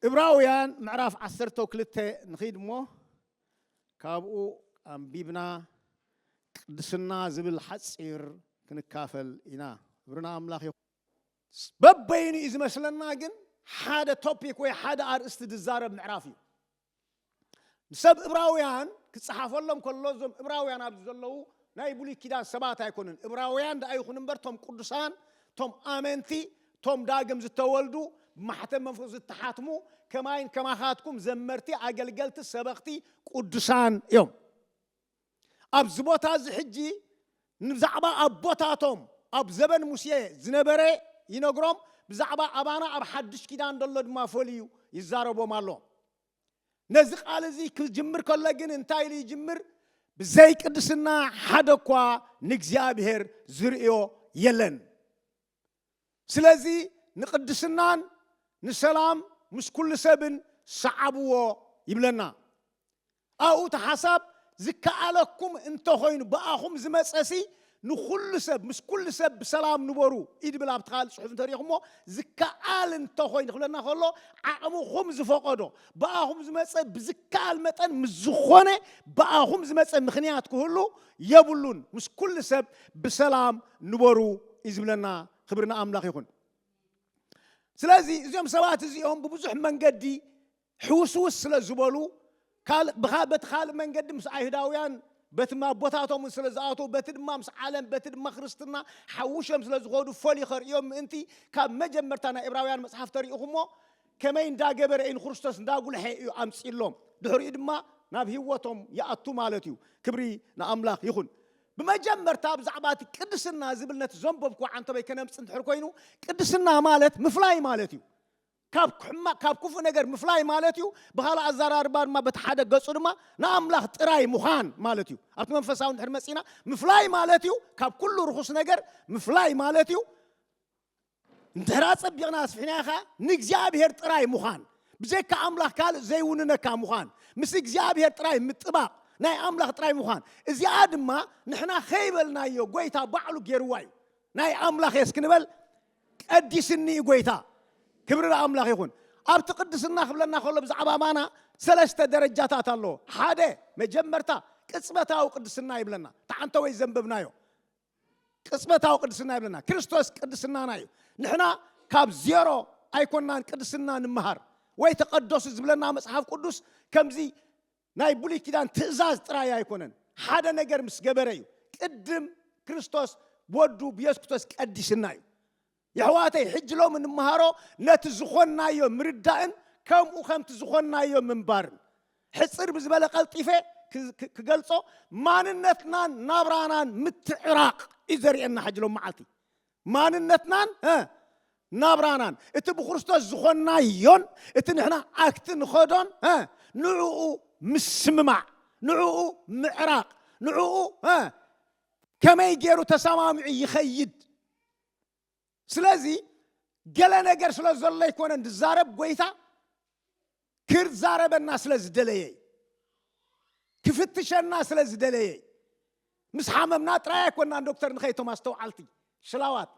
እብራውያን ምዕራፍ ዓሰርተ ክልተ ንኺድ እሞ ካብኡ ኣንቢብና ቅድስና ዝብል ሓፂር ክንካፈል ኢና እብርና ኣምላኽ ይኹን በበይኑ እዩ ዝመስለና ግን ሓደ ቶፒክ ወይ ሓደ ኣርእስቲ ዝዛረብ ምዕራፍ እዩ ንሰብ እብራውያን ክፀሓፈሎም ከሎ እዞም እብራውያን ኣብዚ ዘለዉ ናይ ብሉይ ኪዳን ሰባት ኣይኮኑን እብራውያን ደኣ ይኹን እምበር እቶም ቅዱሳን እቶም ኣመንቲ እቶም ዳግም ዝተወልዱ ብማሕተም መንፈስ ዝተሓትሙ ከማይን ከማኻትኩም ዘመርቲ ኣገልገልቲ ሰበኽቲ ቅዱሳን እዮም ኣብዚ ቦታ እዚ ሕጂ ንብዛዕባ ኣቦታቶም ኣብ ዘበን ሙሴ ዝነበረ ይነግሮም ብዛዕባ ኣባና ኣብ ሓድሽ ኪዳን ዘሎ ድማ ፈልዩ ይዛረቦም ኣሎ። ነዚ ቃል እዚ ክጅምር ከሎ ግን እንታይ ኢሉ ይጅምር? ብዘይ ቅድስና ሓደ እኳ ንእግዚኣብሔር ዝርእዮ የለን። ስለዚ ንቅድስናን ንሰላም ምስ ኩሉ ሰብን ሰዓብዎ ይብለና። ኣብኡ እቲ ሓሳብ ዝከኣለኩም እንተኾይኑ ብኣኹም ዝመጸሲ ንኹሉ ሰብ ምስ ኩሉ ሰብ ብሰላም ንበሩ እዩ ዝብል ኣብቲ ካልእ ጽሑፍ እንተሪኢኹሞ ዝከኣል እንተኾይኑ ክብለና ከሎ ዓቕምኹም ዝፈቐዶ ብኣኹም ዝመጸ ብዝከኣል መጠን ምስ ዝኾነ ብኣኹም ዝመጸ ምኽንያት ክህሉ የብሉን ምስ ኩሉ ሰብ ብሰላም ንበሩ እዩ ዝብለና ክብሪ ንኣምላኽ ይኹን ስለዚ እዚኦም ሰባት እዚኦም ብብዙሕ መንገዲ ሕውስውስ ስለ ዝበሉ በቲ ካልእ መንገዲ ምስ ኣይሁዳውያን በቲ ኣቦታቶምን ስለ ዝኣተው በቲ ድማ ምስ ዓለም በቲ ድማ ክርስትና ሓውሸም ስለ ዝኸዱ ፈልዩ ከርእዮም ምእንቲ ካብ መጀመርታ ናይ እብራውያን መፅሓፍ ተሪኢኹሞ ከመይ እንዳ ገበረ እዩ ንክርስቶስ እንዳ ጉልሐ እዩ ኣምጺሎም ድሕሪኡ ድማ ናብ ህይወቶም ይኣቱ ማለት እዩ ክብሪ ንኣምላኽ ይኹን ብመጀመርታ ብዛዕባ እቲ ቅድስና ዝብል ነቲ ዘንበብኩ ዓንተበይ ከነምፅ እንድሕር ኮይኑ ቅድስና ማለት ምፍላይ ማለት እዩ ካብ ሕማቅ ካብ ክፉእ ነገር ምፍላይ ማለት እዩ ብካልእ ኣዘራርባ ድማ በቲ ሓደ ገጹ ድማ ንኣምላኽ ጥራይ ምዃን ማለት እዩ ኣብቲ መንፈሳዊ እንድሕር መጺና ምፍላይ ማለት እዩ ካብ ኩሉ ርኹስ ነገር ምፍላይ ማለት እዩ እንድሕር ኣጸቢቕና ኣስፊሕናዮ ከኣ ንእግዚኣብሄር ጥራይ ምዃን ብዘካ ኣምላኽ ካልእ ዘይውንነካ ምዃን ምስ እግዚኣብሄር ጥራይ ምጥባቕ ናይ ኣምላኽ ጥራይ ምዃን እዚኣ ድማ ንሕና ከይበልናዮ ጎይታ ባዕሉ ገይርዋ እዩ ናይ ኣምላኽ የስ ክንበል ቀዲስኒ እዩ ጎይታ ክብሪ ንኣምላኽ ይኹን ኣብቲ ቅድስና ክብለና ከሎ ብዛዕባ ማና ሰለስተ ደረጃታት ኣለዎ ሓደ መጀመርታ ቅጽበታዊ ቅድስና ይብለና ተዓንተ ወይ ዘንበብናዮ ቅጽበታዊ ቅድስና ይብለና ክርስቶስ ቅድስናና እዩ ንሕና ካብ ዜሮ ኣይኮናን ቅድስና ንምሃር ወይ ተቐደሱ ዝብለና መጽሓፍ ቅዱስ ከምዚ ናይ ብሉይ ኪዳን ትእዛዝ ጥራይ ኣይኮነን ሓደ ነገር ምስ ገበረ እዩ ቅድም ክርስቶስ ወዱ ብየሱስ ክርስቶስ ቀዲስና እዩ የሕዋተይ ሕጂ ሎሚ ንመሃሮ ነቲ ዝኾንናዮ ምርዳእን ከምኡ ከምቲ ዝኾንናዮ ምንባርን። ሕጽር ብዝበለ ቀልጢፈ ክገልጾ ማንነትናን ናብራናን ምትዕራቕ እዩ ዘርእየና ሕጂ ሎም መዓልቲ። ማንነትናን ናብራናን እቲ ብክርስቶስ ዝኾንናዮን እቲ ንሕና ኣክቲ ንኸዶን ንዕኡ ምስምማዕ ንዕኡ ምዕራቕ ንዕኡ ከመይ ገይሩ ተሰማሚዑ ይኸይድ ስለዚ ገለ ነገር ስለ ዘሎ ኣይኮነን ዝዛረብ ጎይታ ክዛረበና ስለ ዝደለየ እዩ ክፍትሸና ስለ ዝደለየ እዩ ምስ ሓመምና ጥራይ ኣይኮናን ዶክተር ንኸይ ቶም ኣስተውዓልቲ ሽላዋት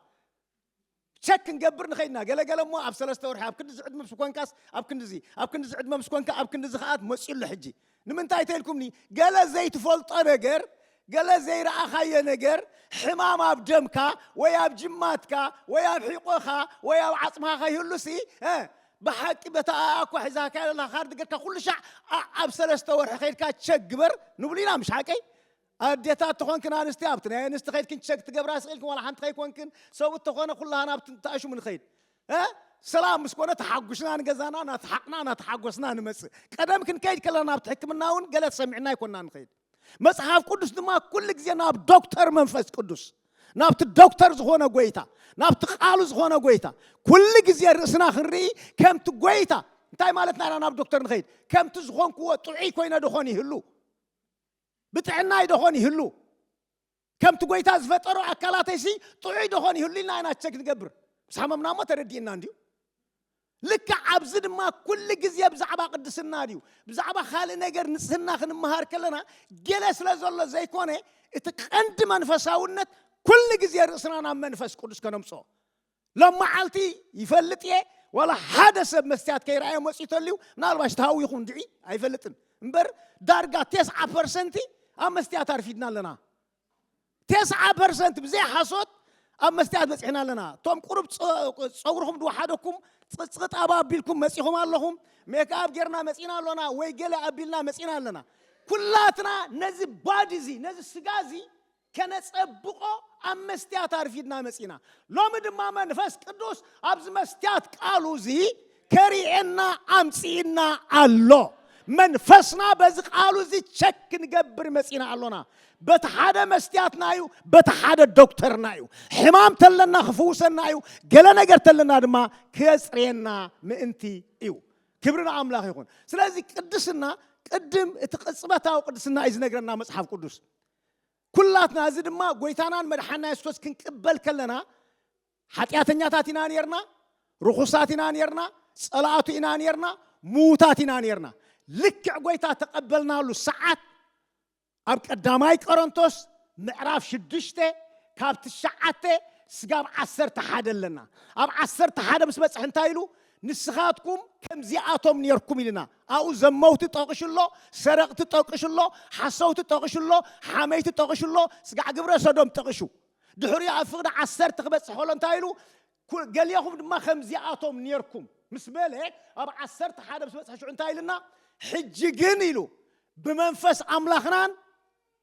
ቸክ ክንገብር ንኸይድና ገለገለ እሞ ኣብ ሰለስተ ወርሒ ኣብ ክንዲዚ ዕድመ ምስ ኮንካስ ኣብ ክንዲዚ ኣብ ክንዲዚ ዕድመ ምስ ኮንካ ኣብ ክንዲዚ ከኣት መፅዩሎ ሕጂ ንምንታይ ተልኩምኒ ገለ ዘይትፈልጦ ነገር ገለ ዘይረኣኻዮ ነገር ሕማም ኣብ ደምካ ወይ ኣብ ጅማትካ ወይ ኣብ ሒቆኻ ወይ ኣብ ዓጽምኻ ከይህሉሲ ብሓቂ በታ ኣኳ ሒዛካ ለላ ካርድ ገርካ ኩሉ ሻዕ ኣብ ሰለስተ ወርሒ ከይድካ ቸክ ግበር ንብሉ ኢና ምሽ ሓቀይ ኣዴታት ተኾንክን ኣንስቲ ኣብቲ ናይ ኣንስቲ ከይድክን ቸክ ትገብራ ስቂልክን ዋላ ሓንቲ ከይኮንክን ሰብኡት ተኾነ ኩላህና ኣብቲ እንተኣሽሙ ንኸይድ እ ሰላም ምስ ኮነ ተሓጉስና ንገዛና ናተሓቕና ናተሓጎስና ንመጽእ ቀደም ክንከይድ ከለና ናብቲ ሕክምና እውን ገለ ተሰሚዕና ኣይኮንና ንኸይድ መጽሓፍ ቅዱስ ድማ ኩሉ ግዜ ናብ ዶክተር መንፈስ ቅዱስ ናብቲ ዶክተር ዝኾነ ጎይታ ናብቲ ቃሉ ዝኾነ ጎይታ ኩሉ ግዜ ርእስና ክንርኢ ከምቲ ጎይታ እንታይ ማለትና ኢና ናብ ዶክተር ንኸይድ ከምቲ ዝኾንክዎ ጥዑይ ኮይነ ድኾን ይህሉ ብጥዕናይ ደኾን ይህሉ? ከምቲ ጐይታ ዝፈጠሮ ኣካላተይሲ ጥዑይ ደኾን ይህሉ? ኢልና ኢና ቸክ ንገብር። ምስ ሓመምና እሞ ተረዲእና እንድዩ። ልክዕ ኣብዚ ድማ ኩሉ ግዜ ብዛዕባ ቅድስና ድዩ ብዛዕባ ካልእ ነገር ንጽህና ክንመሃር ከለና ገለ ስለ ዘሎ ዘይኮነ እቲ ቀንዲ መንፈሳውነት ኩሉ ግዜ ርእስና ናብ መንፈስ ቅዱስ ከነምጽኦ ሎማዓልቲ ይፈልጥ እየ ዋላ ሓደ ሰብ መስትያት ከይረኣዮ መፅኡ ተልዩ ምናልባሽ ተሃዊኹ እንድዒ ኣይፈልጥን እምበር ዳርጋ ቴስዓ ፐርሰንቲ ኣብ መስትያት ኣርፊድና ኣለና ቴስዓ ፐርሰንት ብዘይ ሓሶት ኣብ መስትያት በፂሕና ኣለና እቶም ቁሩብ ፀጉርኹም ድወሓደኩም ፅፅቕጥ ኣባ ኣቢልኩም መፂኹም ኣለኹም ሜክኣብ ጌርና መፂና ኣሎና ወይ ገለ ኣቢልና መፂና ኣለና ኩላትና ነዚ ባዲ እዚ ነዚ ስጋ እዚ ከነጸብቆ ኣብ መስትያት ኣርፊድና መጺና ሎሚ ድማ መንፈስ ቅዱስ ኣብዚ መስትያት ቃሉ እዚ ከሪኤና ኣምጺእና ኣሎ መንፈስና በዚ ቃሉ እዚ ቸክ ክንገብር መጺና ኣሎና በቲ ሓደ መስትያትና እዩ በቲ ሓደ ዶክተርና እዩ ሕማም ተለና ክፍውሰና እዩ ገለ ነገር ተለና ድማ ከጽርየና ምእንቲ እዩ ክብሪ ንኣምላኽ ይኹን ስለዚ ቅድስና ቅድም እቲ ቅጽበታዊ ቅድስና እዩ ዝነግረና መጽሓፍ ቅዱስ ኩላትና እዚ ድማ ጎይታናን መድሓና የሱስ ክንቅበል ከለና ሓጢኣተኛታት ኢና ነርና ርኹሳት ኢና ነርና ጸላእቱ ኢና ነርና ምዉታት ኢና ነርና ልክዕ ጎይታ ተቐበልናሉ ሰዓት ኣብ ቀዳማይ ቆሮንቶስ ምዕራፍ ሽዱሽተ ካብ ትሽዓተ ስጋብ ዓሰርተ ሓደ ኣለና ኣብ ዓሰርተ ሓደ ምስ በፅሕ እንታይ ኢሉ ንስኻትኩም ከምዚኣቶም ነርኩም ኢልና ኣብኡ ዘመውቲ ጠቂሹ ኣሎ፣ ሰረቅቲ ጠቂሹ ኣሎ፣ ሓሰውቲ ጠቂሹ ኣሎ፣ ሓመይቲ ጠቂሹ ኣሎ፣ ጽጋዕ ግብረ ሰዶም ጠቂሹ። ድሕሪኡ ኣብ ፍቅዲ ዓሰርተ ክበጽሕ ከሎ እንታይ ኢሉ ኩ ገሌኹም ድማ ከምዚኣቶም ኔርኩም ምስ በለ ኣብ ዓሰርተ ሓደ ምስ በጽሐ ሽዑ እንታይ ኢልና ሕጂ ግን ኢሉ ብመንፈስ ኣምላኽናን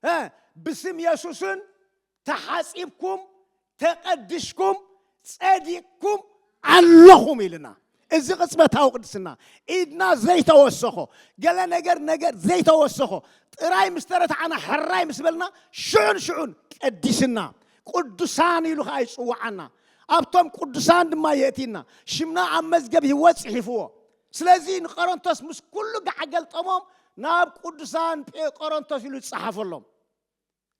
እ ብስም የሱስን ተሓጺብኩም ተቐድሽኩም ጸዲቕኩም ኣሎኹም ኢልና እዚ ቅጽበታዊ ቅድስና ኢድና ዘይተወሰኾ ገለ ነገር ነገር ዘይተወሰኾ ጥራይ ምስ ተረታዕና ሕራይ ምስ በልና ሽዑን ሽዑን ቀዲስና ቅዱሳን ኢሉ ከዓ ይፅዋዓና ኣብቶም ቅዱሳን ድማ የእቲና ሽምና ኣብ መዝገብ ህይወት ጽሒፍዎ ስለዚ ንቆሮንቶስ ምስ ኩሉ ጋዕ ገልጠሞም ናብ ቅዱሳን ቆሮንቶስ ኢሉ ዝጸሓፈሎም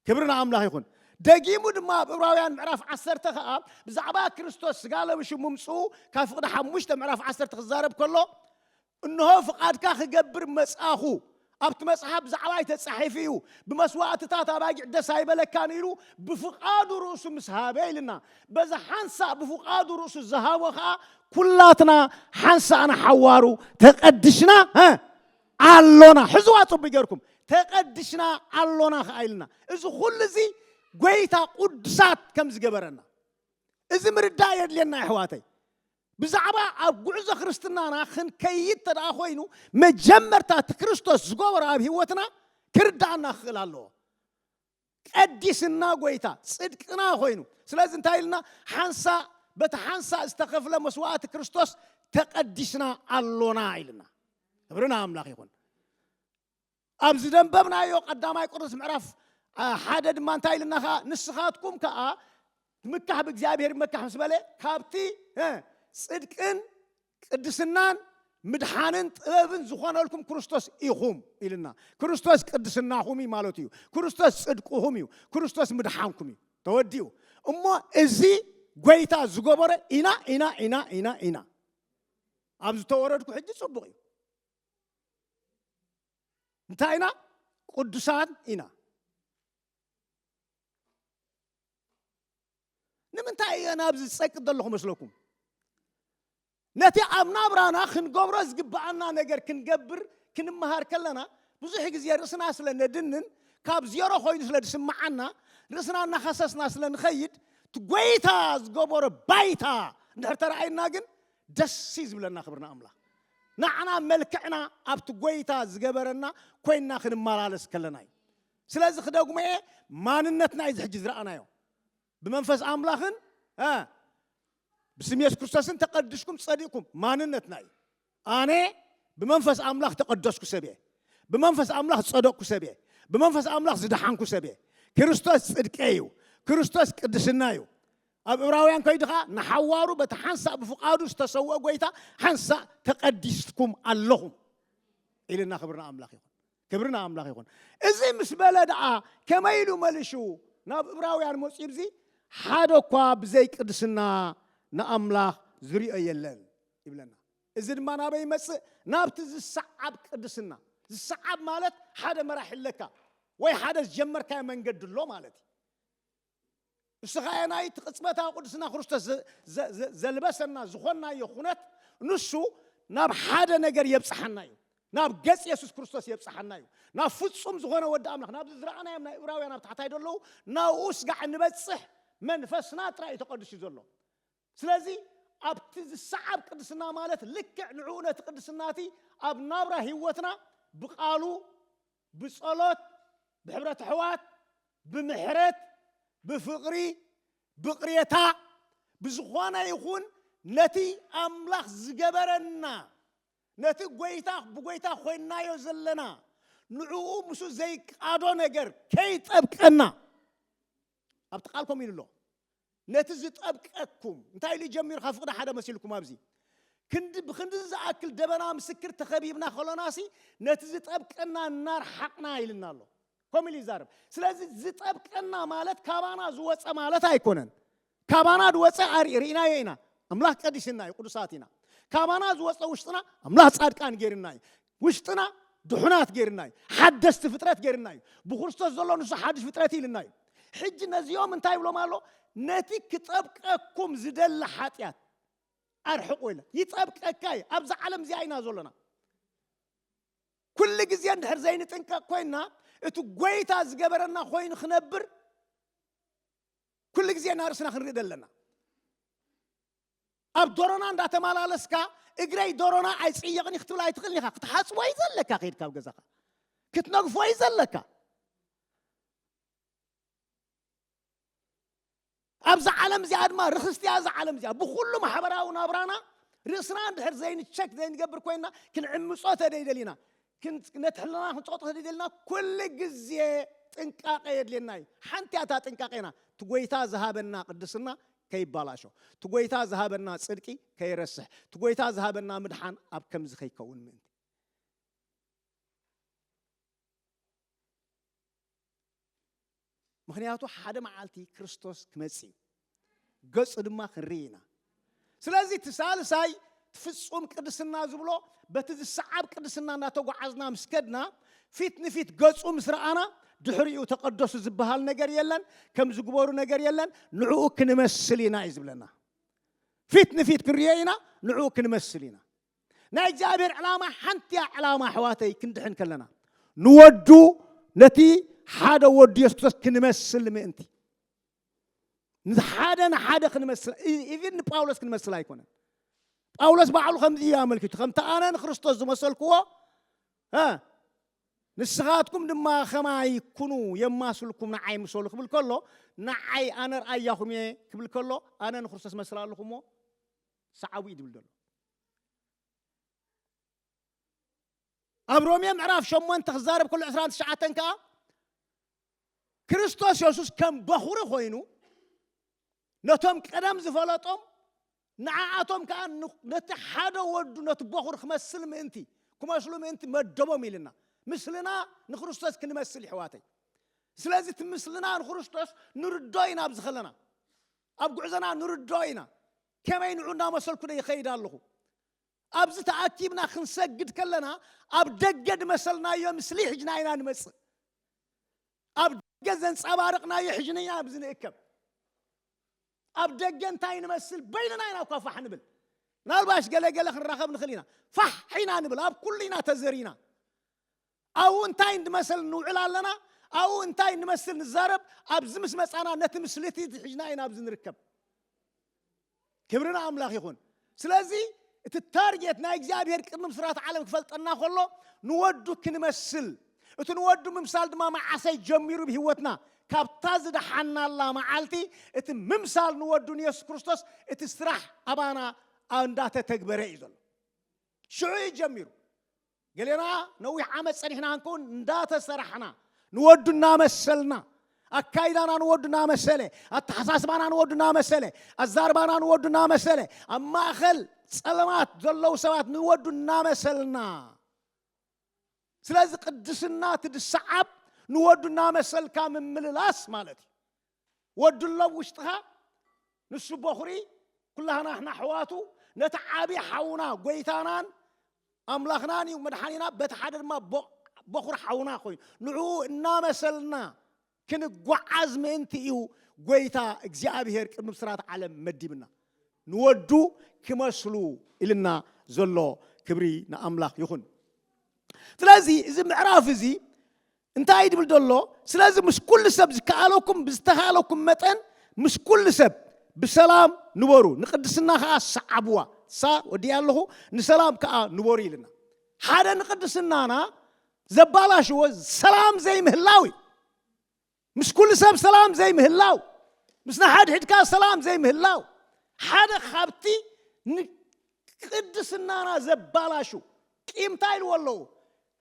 ክብሪ ንኣምላኽ ይኹን። ደጊሙ ድማ ኣብ ዕብራውያን ምዕራፍ ዓሰርተ ኸኣ ብዛዕባ ክርስቶስ ስጋ ለብሹ ምምጽኡ ካብ ፍቕዲ ሓሙሽተ ምዕራፍ ዓሰርተ ክዛረብ ከሎ እንሆ ፍቓድካ ክገብር መጻኹ ኣብቲ መጽሓፍ ብዛዕባይ ተጻሒፉ እዩ ብመስዋእትታት ኣባጊዕ ደስ ኣይበለካን ኢሉ ብፍቓዱ ርእሱ ምስ ሃበ ኢልና በዚ ሓንሳእ ብፍቓዱ ርእሱ ዝሃቦ ከዓ ኩላትና ሓንሳእና ሓዋሩ ተቐድሽና ኣሎና ሕዝዋ ጽቡይ ገርኩም ተቀድሽና ኣሎና ከኣ ኢልና እዚ ኩሉ እዚ ጎይታ ቁዱሳት ከም ዝገበረና እዚ ምርዳእ የድልየና የሕዋተይ ብዛዕባ ኣብ ጉዕዞ ክርስትናና ክንከይድ ተደኣ ኮይኑ መጀመርታ እቲ ክርስቶስ ዝገበሮ ኣብ ህይወትና ክርዳኣና ክኽእል ኣለዎ ቀዲስና ጎይታ ጽድቅና ኮይኑ ስለዚ እንታይ ኢልና ሓንሳእ በቲ ሓንሳእ ዝተኸፍለ መስዋእቲ ክርስቶስ ተቀዲስና ኣሎና ኢልና ክብርና ኣምላኽ ይኹን ኣብ ዝደንበብናዮ ቀዳማይ ቆሮንቶስ ምዕራፍ ሓደ ድማ እንታይ ኢልና ከዓ ንስኻትኩም ከዓ ትምካሕ ብእግዚኣብሔር ይመካሕ ምስ በለ ካብቲ ጽድቅን ቅድስናን ምድሓንን ጥበብን ዝኾነልኩም ክርስቶስ ኢኹም ኢልና ክርስቶስ ቅድስናኹም እዩ ማለት እዩ ክርስቶስ ጽድቅኹም እዩ ክርስቶስ ምድሓንኩም እዩ ተወዲኡ እሞ እዚ ጎይታ ዝገበረ ኢና ኢና ኢና ኢና ኢና ኣብ ዝተወረድኩ ሕጂ ጽቡቕ እዩ እንታይ ኢና ቅዱሳን ኢና ንምንታይ እየ ናብዚ ዝጸቅጥ ዘለኹ መስለኩም ነቲ ኣብ ናብራና ክንገብሮ ዝግብኣና ነገር ክንገብር ክንመሃር ከለና ብዙሕ ግዜ ርእስና ስለ ነድንን ካብ ዜሮ ኮይኑ ስለ ዝስምዓና ርእስና እናኸሰስና ስለ ንኸይድ እቲ ጎይታ ዝገበሮ ባይታ እንድሕር ተረኣይና ግን ደስ እዩ ዝብለና ክብርና ኣምላኽ ንዓና መልክዕና ኣብቲ ጎይታ ዝገበረና ኮይንና ክንመላለስ ከለና እዩ ስለዚ ክደግሞ እየ ማንነትና እዩ እዚ ሕጂ ዝረኣናዮ ብመንፈስ ኣምላኽን ብስም የሱስ ክርስቶስን ተቀድስኩም ጸዲቅኩም ማንነትና እዩ ኣነ ብመንፈስ ኣምላኽ ተቀደስኩ ሰብ እየ ብመንፈስ ኣምላኽ ዝጸደቅኩ ሰብ እየ ብመንፈስ ኣምላኽ ዝደሓንኩ ሰብ እየ ክርስቶስ ጽድቂ እዩ ክርስቶስ ቅድስና እዩ ኣብ እብራውያን ከይዱ ከዓ ንሓዋሩ በቲ ሓንሳእ ብፍቃዱ ዝተሰውአ ጎይታ ሓንሳእ ተቀዲስኩም ኣለኹም ኢልና ክብርና ኣምላኽ ይኹን ክብሪ ንኣምላኽ ይኹን እዚ ምስ በለ ደኣ ከመይ ኢሉ መልሹ ናብ እብራውያን መጺኡ ብዚ ሓደ እኳ ብዘይ ቅድስና ንኣምላኽ ዝሪኦ የለን ይብለና እዚ ድማ ናበይ ይመጽእ ናብቲ ዝሰዓብ ቅድስና ዝሰዓብ ማለት ሓደ መራሒ ኣለካ ወይ ሓደ ዝጀመርካዮ መንገዲ ኣሎ ማለት እዩ እስኻ የናይ እቲ ቅጽበታዊ ቅዱስና ክርስቶስ ዘልበሰና ዝኾናዮ ኩነት ንሱ ናብ ሓደ ነገር የብጽሓና እዩ ናብ ገጽ የሱስ ክርስቶስ የብጽሓና እዩ ናብ ፍጹም ዝኾነ ወዲ ኣምላኽ ናብዚ ዝረኣናዮም ናይ እብራውያን ኣብ ታሕታይ ደለዉ ናብኡ ስጋዕ ንበጽሕ መንፈስና ጥራይ እዩ ተቐዱስ እዩ ዘሎ ስለዚ ኣብቲ ዝሰዓብ ቅድስና ማለት ልክዕ ንዕኡ ነቲ ቅድስና እቲ ኣብ ናብራ ህይወትና ብቃሉ ብጸሎት ብሕብረት ኣሕዋት ብምሕረት ብፍቕሪ ብቕሬታ ብዝኾነ ይኹን ነቲ ኣምላኽ ዝገበረና ነቲ ጎይታ ብጎይታ ኮይንናዮ ዘለና ንዕኡ ምስኡ ዘይቃዶ ነገር ከይጠብቀና ኣብቲ ቃል ከምኡ ኢሉ ኣሎ ነቲ ዝጠብቀኩም እንታይ ኢሉ ጀሚሩ ካብ ፍቕዲ ሓደ መሲልኩም ኣብዚ ክንዲ ብክንዲ ዝኣክል ደበና ምስክር ተኸቢብና ከሎናሲ ነቲ ዝጠብቀና እናርሓቕና ኢልና ኣሎ ከምኡ ኢሉ ይዛረብ ስለዚ ዝጠብቀና ማለት ካባና ዝወፀ ማለት ኣይኮነን ካባና ዝወፀ ርኢናዮ ኢና ኣምላኽ ቀዲስና እዩ ቅዱሳት ኢና ካባና ዝወፀ ውሽጥና ኣምላኽ ፃድቃን ገይርና እዩ ውሽጥና ድሑናት ገይርና እዩ። ሓደስቲ ፍጥረት ገይርና እዩ። ብክርስቶስ ዘሎ ንሱ ሓዱሽ ፍጥረት እዩ ኢልና እዩ። ሕጂ ነዚኦም እንታይ ይብሎም ኣሎ? ነቲ ክጸብቀኩም ዝደሊ ሓጢኣት ኣርሕቁ ኢለ ይጸብቀካ እየ። ኣብዛ ዓለም እዚኣ ኢና ዘሎና። ኩሉ ግዜ እንድሕር ዘይንጥንቀቕ ኮይንና እቲ ጎይታ ዝገበረና ኮይኑ ክነብር ኩሉ ግዜ ናርእስና ክንርኢ ደለና። ኣብ ዶሮና እንዳተመላለስካ እግረይ ዶሮና ኣይጽየቕን እዩ ክትብል ኣይትኽእልን ኢኻ ክትሓጽቦ እዩ ዘለካ ከይድካ ኣብ ገዛኻ ክትነግፎ እዩ ዘለካ ኣብዚ ዓለም እዚኣ ድማ ርኽስቲ እያ እዛ ዓለም እዚኣ ብኩሉ ማሕበራዊ ናብራና ርእስና እንድሕር ዘይንቸክ ዘይንገብር ኮይንና ክንዕምፆ ተደይደሊና ነቲ ሕልናና ክንጸቕጦ ተደልየልና ኩሉ ግዜ ጥንቃቐ የድልየና እዩ። ሓንቲ እያ እታ ጥንቃቄና፣ እቲ ጎይታ ዝሃበና ቅድስና ከይባላሾ፣ እቲ ጎይታ ዝሃበና ጽድቂ ከይረስሕ፣ እቲ ጎይታ ዝሃበና ምድሓን ኣብ ከምዚ ከይከውን ምእንቲ። ምክንያቱ ሓደ መዓልቲ ክርስቶስ ክመጽእ እዩ ገጹ ድማ ክንርኢ ኢና ስለዚ እቲ ሳልሳይ ፍጹም ቅድስና ዝብሎ በቲ ዝሰዓብ ቅድስና እናተጓዓዝና ምስ ከድና ፊት ንፊት ገጹ ምስ ረኣና ድሕሪኡ ተቐደሱ ዝበሃል ነገር የለን ከም ዝግበሩ ነገር የለን ንዕኡ ክንመስል ኢና እዩ ዝብለና ፊት ንፊት ክንሪኦ ኢና ንዕኡ ክንመስል ኢና ናይ እግዚኣብሔር ዕላማ ሓንቲያ ዕላማ ኣሕዋተይ ክንድሕን ከለና ንወዱ ነቲ ሓደ ወዱ የሱስ ክርስቶስ ክንመስል ምእንቲ ንሓደ ንሓደ ክንመስል ኢቭን ንጳውሎስ ክንመስል ኣይኮነን ጳውሎስ ባዕሉ ከምዚ እዩ ኣመልኪቱ ከምቲ ኣነ ንክርስቶስ ዝመሰልክዎ እ ንስኻትኩም ድማ ከማይ ኩኑ የማስልኩም ንዓይ ምሰሉ ክብል ከሎ ንዓይ ኣነ ርኣያኹም እየ ክብል ከሎ ኣነ ንክርስቶስ መስል ኣለኹ እሞ ሰዓቡ እዩ ዝብል ዘሎ ኣብ ሮሜ ምዕራፍ ሸሞንተ ክዛረብ ከሎ ዕስራን ትሽዓተን ከዓ ክርስቶስ የሱስ ከም በኹሪ ኮይኑ ነቶም ቀደም ዝፈለጦም ንዓኣቶም ከዓ ነቲ ሓደ ወዱ ነቲ በኹር ክመስል ምእንቲ ክመስሉ ምእንቲ መደቦም ኢልና ምስልና ንክርስቶስ ክንመስል ይሕዋተይ ስለዚ እቲ ምስልና ንክርስቶስ ንርዶ ኢና ኣብዚ ከለና ኣብ ጉዕዞና ንርድኦ ኢና፣ ከመይ ንዑ እናመሰልኩዶ ይኸይድ ኣለኹ? ኣብዚ ተኣኪብና ክንሰግድ ከለና ኣብ ደገ ዝመሰልናዮ ምስሊ ሒጅና ኢና ንመጽእ፣ ኣብ ደገ ዘንጸባርቕናዮ ሒጅና ኢና ኣብዚ ንእከብ፣ ኣብ ደገ እንታይ ንመስል በይንና ኢና እኳ ፋሕ ንብል፣ ምናልባሽ ገለ ገለ ክንራኸብ ንኽእል ኢና፣ ፋሕ ኢና ንብል፣ ኣብ ኩሉ ኢና ተዘሪና። ኣብኡ እንታይ እንመስል ንውዕል ኣለና፣ ኣብኡ እንታይ እንመስል ንዛረብ፣ ኣብዚ ምስ መጻና ነቲ ምስሊ እቲ ሒዝና ኢና ኣብዚ ንርከብ። ክብሪ ንኣምላኽ ይኹን። ስለዚ እቲ ታርጌት ናይ እግዚኣብሄር ቅድሚ ምስራት ዓለም ክፈልጠና ከሎ ንወዱ ክንመስል፣ እቲ ንወዱ ምምሳል ድማ መዓሰይ ጀሚሩ ብህይወትና ካብታ ዝደሓናላ መዓልቲ እቲ ምምሳል ንወዱ ንየሱስ ክርስቶስ እቲ ስራሕ ኣባና እንዳተተግበረ እዩ ዘሎ። ሽዑ እዩ ጀሚሩ። ገሌና ነዊሕ ዓመት ጸኒሕና እንክውን እንዳተሰራሕና ንወዱ እናመሰልና ኣካይዳና ንወዱ እናመሰለ ኣተሓሳስባና ንወዱ እናመሰለ ኣዛርባና ንወዱ እናመሰለ ኣብ ማእኸል ጸለማት ዘለዉ ሰባት ንወዱ እናመሰልና ስለዚ ቅድስና እቲ ድሰዓብ ንወዱ እናመሰልካ ምምልላስ ማለት እዩ ወድሎ ኣብ ውሽጥኻ ንሱ ቦኽሪ ኩላህና ንሕና ኣሕዋቱ ነቲ ዓቢ ሓውና ጎይታናን ኣምላኽናን እዩ መድሓኒና በቲ ሓደ ድማ ቦኽሪ ሓውና ኮይኑ ንዕኡ እናመሰልና ክንጓዓዝ ምእንቲ እዩ ጎይታ እግዚኣብሄር ቅድሚ ብስራት ዓለም መዲብና ንወዱ ክመስሉ ኢልና ዘሎ ክብሪ ንኣምላኽ ይኹን ስለዚ እዚ ምዕራፍ እዚ እንታይ እዩ ድብል ዘሎ? ስለዚ ምስ ኩሉ ሰብ ዝከኣለኩም ብዝተኻእለኩም መጠን ምስ ኩሉ ሰብ ብሰላም ንበሩ፣ ንቅድስና ከኣ ሰዓብዋ። ሳ ወዲኣ ኣለኹ፣ ንሰላም ከኣ ንበሩ ኢልና። ሓደ ንቅድስናና ዘባላሽዎ ሰላም ዘይምህላው እዩ። ምስ ኩሉ ሰብ ሰላም ዘይምህላው፣ ምስ ንሓድሕድካ ሰላም ዘይምህላው ሓደ ካብቲ ንቅድስናና ዘባላሹ ቂምታ ኢልዎ ኣለዉ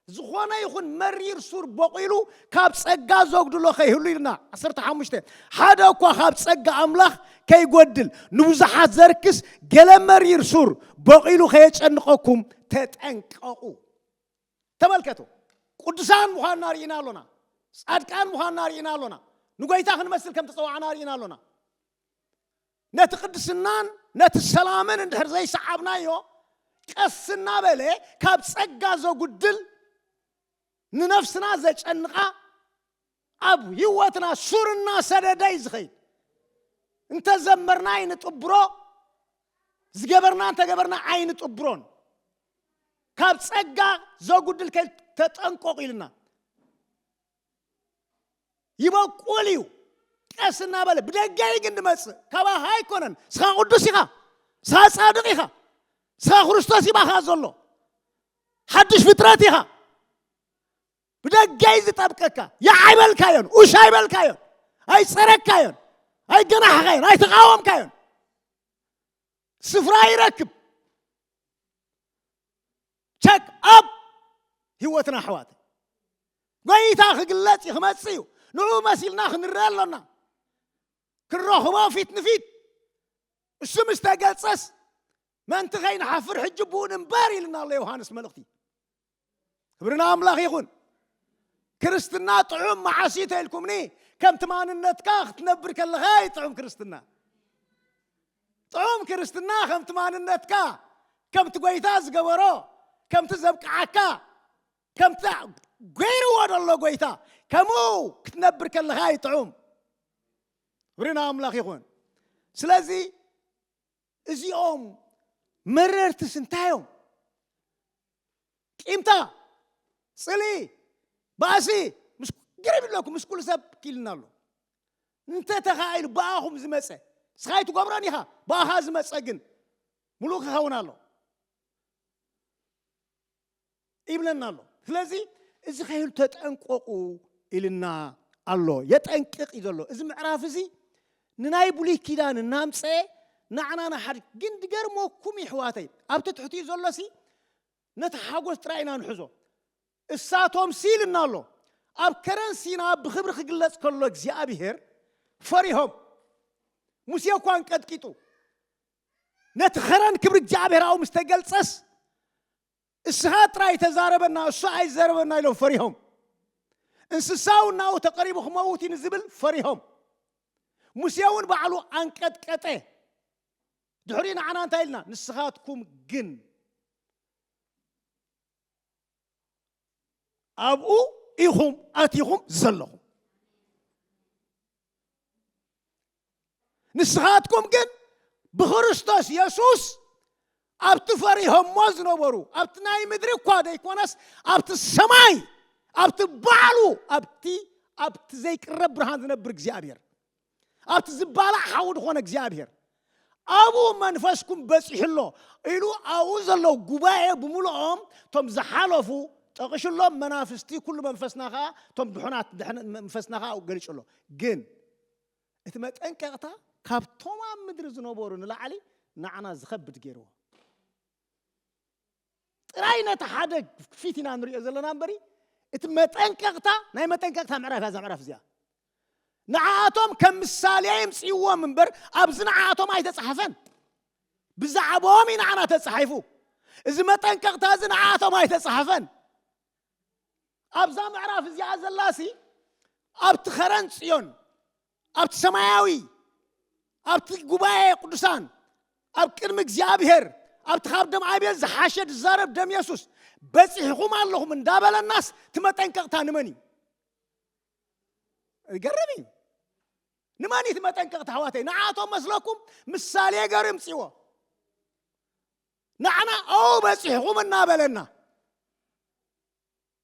ዝኾነ ይኹን መሪር ሱር ቦቒሉ ካብ ጸጋ ዘጉድሎ ከይህሉ ኢልና ዓሰርተ ሓሙሽተ ሓደ እኳ ካብ ጸጋ ኣምላኽ ከይጎድል ንብዙሓት ዘርክስ ገለ መሪር ሱር ቦቒሉ ከየጨንቐኩም ተጠንቀቑ። ተመልከቱ፣ ቅዱሳን ምዃንና ርኢና ኣሎና፣ ጻድቃን ምዃንና ርኢና ኣሎና፣ ንጎይታ ክንመስል ከም ተጸዋዕና ርኢና ኣሎና። ነቲ ቅድስናን ነቲ ሰላምን እንድሕር ዘይሰዓብናዮ ቀስ እናበለ ካብ ጸጋ ዘጉድል ንነፍስና ዘጨንቓ ኣብ ህይወትና ሱር እናሰደደ እዩ ዝኸይድ እንተዘመርና ኣይንጥብሮ ዝገበርና እንተገበርና ኣይንጥብሮን ካብ ጸጋ ዘጉድል ከይተጠንቆቕ ኢልና ይበቁል እዩ ቀስ እናበለ ብደገ እዩ ግን ድመፅእ ካባኻ ኣይኮነን ስኻ ቅዱስ ኢኻ ስኻ ፃድቕ ኢኻ ስኻ ክርስቶስ ይባኻ ዘሎ ሓድሽ ፍጥረት ኢኻ ብደገ እዩ ዝጠብቀካ ይዓይበልካዮን ኡሽ ኣይበልካዮን ኣይፀረካዮን ኣይገናሕኻዮን ኣይተቃወምካዮን ስፍራ ይረክብ ቸክ ኣብ ህይወትና ኣሕዋት ጎይታ ክግለጽ እዩ ክመጽእ እዩ ንኡ መሲልና ክንርአ ኣሎና ክንረኽቦ ፊት ንፊት እሱ ምስ ተገልጸስ መንቲ ከይንሓፍር ሕጂ ብኡ ንንበር ኢልና ኣሎ ዮሃንስ መልእኽቲ ክብርና ኣምላኽ ይኹን ክርስትና ጥዑም መዓስ እዩ ተኢልኩምኒ ከምቲ ማንነትካ ክትነብር ከለኻ እዩ ጥዑም ክርስትና ጥዑም ክርስትና ከምቲ ማንነትካ ከምቲ ጎይታ ዝገበሮ ከምቲ ዘብቅዓካ ከምቲ ገይርዎ ዘሎ ጎይታ ከምኡ ክትነብር ከለኻ እዩ ጥዑም ክብሪ ንኣምላኽ ይኹን ስለዚ እዚኦም መረርትስ እንታይ እዮም ቂምታ ፅልኢ ባእሲ ምስ ግርም ይብለኩም ምስ ኩሉ ሰብ ኪልና ኣሎ እንተ ተኻኢሉ ብኣኹም ዝመጸ ንስኻ ኣይትገብሮን ኢኻ፣ ብኣኻ ዝመጸ ግን ምሉእ ክኸውን ኣሎ ይብለና ኣሎ። ስለዚ እዚ ከይህሉ ተጠንቀቑ ኢልና ኣሎ፣ የጠንቅቕ እዩ ዘሎ። እዚ ምዕራፍ እዚ ንናይ ብሉይ ኪዳን እናምፀኤ ናዕና ንሓድ ግን ድገርመኩም ይሕዋተይ ኣብቲ ትሕቲኡ ዘሎሲ ነቲ ሓጎስ ጥራይ ኢና ንሕዞ እሳቶምሲ ኢልና ኣሎ ኣብ ከረን ሲና ብኽብሪ ክግለጽ ከሎ እግዚኣብሄር ፈሪሆም ሙሴ እኳ እንቀጥቂጡ ነቲ ኸረን ክብሪ እግዚኣብሄራዊ ምስ ተገልጸስ እስኻ ጥራይ ተዛረበና እሱ ኣይዘረበና ኢሎም ፈሪሆም እንስሳው ናው ተቐሪቡ ክመውት እዩ ንዝብል ፈሪሆም ሙሴ እውን ባዕሉ ኣንቀጥቀጠ ድሕሪኡ ንዓና እንታይ ኢልና ንስኻትኩም ግን ኣብኡ ኢኹም ኣቲኹም ዘለኹም ንስኻትኩም ግን ብክርስቶስ የሱስ ኣብቲ ፈሪሆሞ ዝነበሩ ኣብቲ ናይ ምድሪ እኳ ዘይኮነስ ኣብቲ ሰማይ ኣብቲ ባዕሉ ኣብቲ ኣብቲ ዘይቅረብ ብርሃን ዝነብር እግዚኣብሔር ኣብቲ ዝባላዕ ሓዊ ድኾነ እግዚኣብሔር ኣብኡ መንፈስኩም በጺሑ ኣሎ ኢሉ ኣብኡ ዘለዉ ጉባኤ ብምልኦም እቶም ዝሓለፉ ጠቂሹ ኣሎ መናፍስቲ ኩሉ መንፈስና ከዓ እቶም ድሑናት ድሕን- መንፈስና ከዓ ኣብኡ ገሊጹ ኣሎ ግን እቲ መጠንቀቕታ ካብቶም ኣብ ምድሪ ዝነበሩ ንላዕሊ ንዓና ዝኸብድ ገይርዎ ጥራይ ነቲ ሓደ ፊት ኢና ንሪኦ ዘለና እምበሪ እቲ መጠንቀቕታ ናይ መጠንቀቕታ ምዕራፍ እያ እዛ ምዕራፍ እዚኣ ንዓኣቶም ከም ምሳሌ ይምፅእዎም እምበር ኣብዚ ንዓኣቶም ኣይተፃሕፈን ብዛዕባኦም እዩ ንዓና ተፃሒፉ እዚ መጠንቀቕታ እዚ ንዓኣቶም ኣይተፃሕፈን ኣብዛ ምዕራፍ እዚኣ ዘላሲ ኣብቲ ኸረን ፅዮን ኣብቲ ሰማያዊ ኣብቲ ጉባኤ ቅዱሳን ኣብ ቅድሚ እግዚኣብሔር ኣብቲ ካብ ደም ኣቤል ዝሓሸ ዝዛረብ ደም የሱስ በፂሕኹም ኣለኹም እንዳበለናስ እቲ መጠንቀቕታ ንመን እዩ ይገርም እዩ ንመን እቲ መጠንቀቕታ ኣሕዋተይ ንዓቶም መስለኩም ምሳሌ ገር ምፅዎ ንዓና ኣው በፂሕኹም እናበለና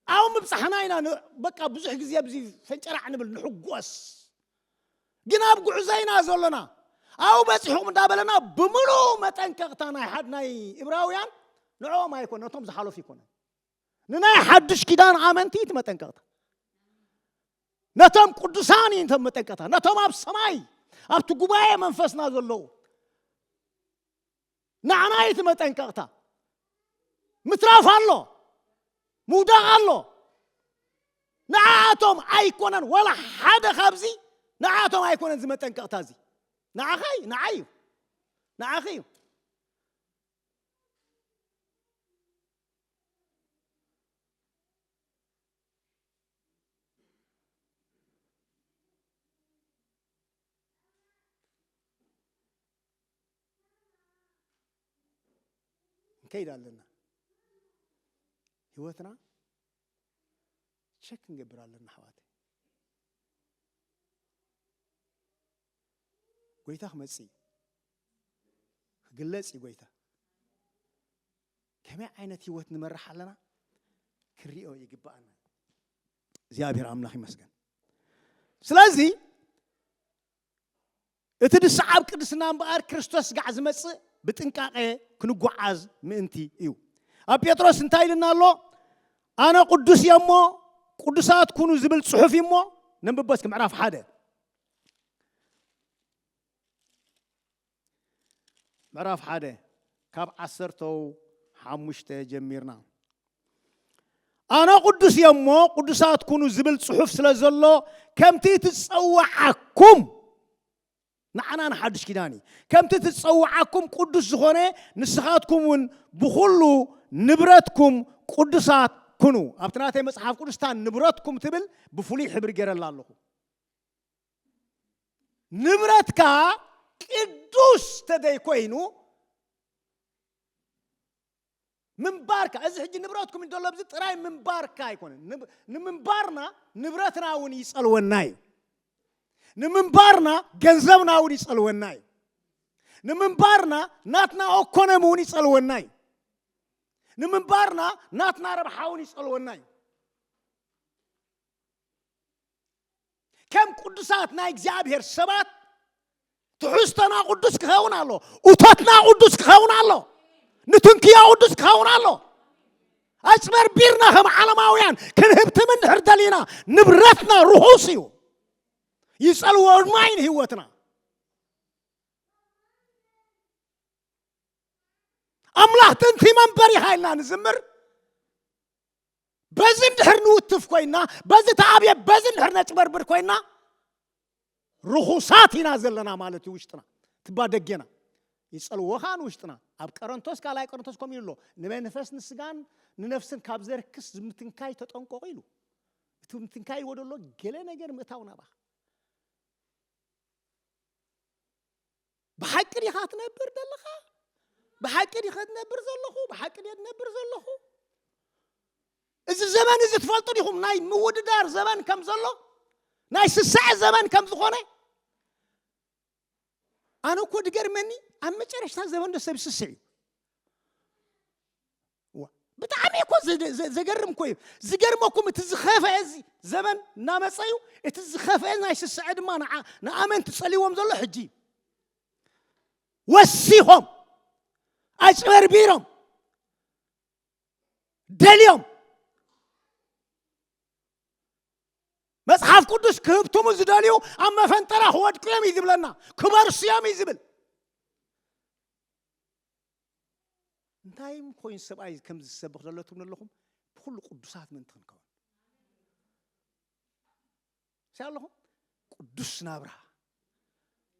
ኣብኡ ምብጻሕና ኢና ን- በቃ ብዙሕ ግዜ ኣብዚ ፈንጨራዕ ንብል ንሕጎስ ግን ኣብ ጉዕዞ ኢና ዘሎና ኣብኡ በጺሕኩም እንዳበለና ብምሉእ መጠንቀቕታ ናይ ሓድ ናይ እብራውያን ንዕኦም ኣይኮነ ነቶም ዝሓለፉ ይኮነ ንናይ ሓድሽ ኪዳን ኣመንቲ እቲ መጠንቀቕታ ነቶም ቅዱሳን እዩ እቶም መጠንቀቕታ ነቶም ኣብ ሰማይ ኣብቲ ጉባኤ መንፈስና ዘለዉ ንዓና እዩ እቲ መጠንቀቕታ። ምትራፍ ኣሎ፣ ምውዳቕ ኣሎ። ንዓኣቶም ኣይኮነን ዋላ ሓደ ካብዚ ንዓኣቶም ኣይኮነን እዚ መጠንቀቕታ እዚ ንዓኻ እዩ ንዓይ እዩ ንዓኺ እዩ ንከይድ ኣለና ህይወትና ቸክ ክንገብር ኣለና ኣሕዋት ጎይታ ክመፅ እዩ ክግለፅ እዩ ጎይታ ከመይ ዓይነት ህይወት ንመርሕ ኣለና ክንሪኦ ይግባኣና እግዚኣብሔር ኣምላኽ ይመስገን ስለዚ እቲ ዝሰዓብ ቅድስና እምበኣር ክርስቶስ ጋዕ ዝመጽእ ብጥንቃቐ ክንጎዓዝ ምእንቲ እዩ። ኣብ ጴጥሮስ እንታይ ኢልና ኣሎ? ኣነ ቅዱስ እየ እሞ ቅዱሳት ኩኑ ዝብል ጽሑፍ እዩ እሞ ነንብቦ እስኪ ምዕራፍ ሓደ ምዕራፍ ሓደ ካብ ዓሰርተው ሓሙሽተ ጀሚርና ኣነ ቅዱስ እየ እሞ ቅዱሳት ኩኑ ዝብል ፅሑፍ ስለ ዘሎ ከምቲ ትፀዋዓኩም ንዓና ንሓዱሽ ኪዳን እዩ ከምቲ ትፀዋዓኩም ቅዱስ ዝኾነ ንስኻትኩም እውን ብኩሉ ንብረትኩም ቅዱሳት ኩኑ ኣብቲ ናተይ መፅሓፍ ቅዱስታ ንብረትኩም ትብል ብፍሉይ ሕብሪ ገይረላ ኣለኹ ንብረትካ ቅዱስ ተደይኮይኑ ምንባርካ እዚ ሕጂ ንብረትኩም እዩ ዘሎ ብዚ ጥራይ ምንባርካ ኣይኮነን ንምንባርና ንብረትና እውን ይጸልወና እዩ ንምንባርና ገንዘብና እውን ይጸልወና እዩ ንምንባርና ናትና ኦኮኖሚ እውን ይጸልወና እዩ ንምንባርና ናትና ረብሓ እውን ይጸልወና እዩ ከም ቅዱሳት ናይ እግዚኣብሔር ሰባት ትሕዝቶና ቅዱስ ክኸውን ኣሎ እቶትና ቅዱስ ክኸውን ኣሎ ንትንክዮ ቅዱስ ክኸውን ኣሎ ኣጭበርቢርና ከም ዓለማውያን ክንህብትም እንድሕር ደሊና ንብረትና ርኹስ እዩ ይጸልዎ ድማ እዩ ንህይወትና ኣምላኽ ጥንቲ መንበሪኻ ኢልና ንዝምር በዚ እንድሕር ንውትፍ ኮይና በዚ ተኣብየ በዚ እንድሕር ነጭበርብር ኮይና ርኹሳት ኢና ዘለና ማለት እዩ ውሽጥና ትባ ደጌና ይጸልዎ ከዓ ንውሽጥና ኣብ ቀረንቶስ ካልኣይ ቀረንቶስ ከምኡ ኢሉ ኣሎ ንመንፈስ ንስጋን ንነፍስን ካብ ዘርክስ ዝምትንካይ ተጠንቀቑ ኢሉ እቲ ምትንካይ ይወደ ኣሎ ገለ ነገር ምእታው ናባኻ ብሓቂ ዲኻ ትነብር ዘለኻ ብሓቂ ዲኸ ትነብር ዘለኹ ብሓቂ ደ ትነብር ዘለኹ እዚ ዘመን እዚ ትፈልጡ ዲኹም ናይ ምውድዳር ዘመን ከም ዘሎ ናይ ስሳዐ ዘመን ከም ዝኾነ ኣነ እኮ ድገርመኒ ኣብ መጨረሽታ ዘመን ዶ ሰብ ይስስዕ እዩ ብጣዕሚ እኮ ዘገርም እኮ እዩ ዝገርመኩም እቲ ዝኸፍአ እዚ ዘበን እናመፀ እዩ እቲ ዝኸፍአ ናይ ስስዐ ድማ ንኣመንቲ ፀልዎም ዘሎ ሕጂ እዩ ወሲኾም ኣጭበርቢሮም ደልዮም መጽሓፍ ቅዱስ ክህብትሙ ዝደልዩ ኣብ መፈንጠራ ክወድቁ እዮም እዩ ዝብለና ክበርሱ እዮም እዩ ዝብል እንታይ ኮይኑ ሰብኣይ ከምዚ ዝሰብኽ ዘሎ ትብሉ ኣለኹም ብኩሉ ቅዱሳት ምእንቲ ክንከውን ሲ ኣለኹም ቅዱስ ናብራ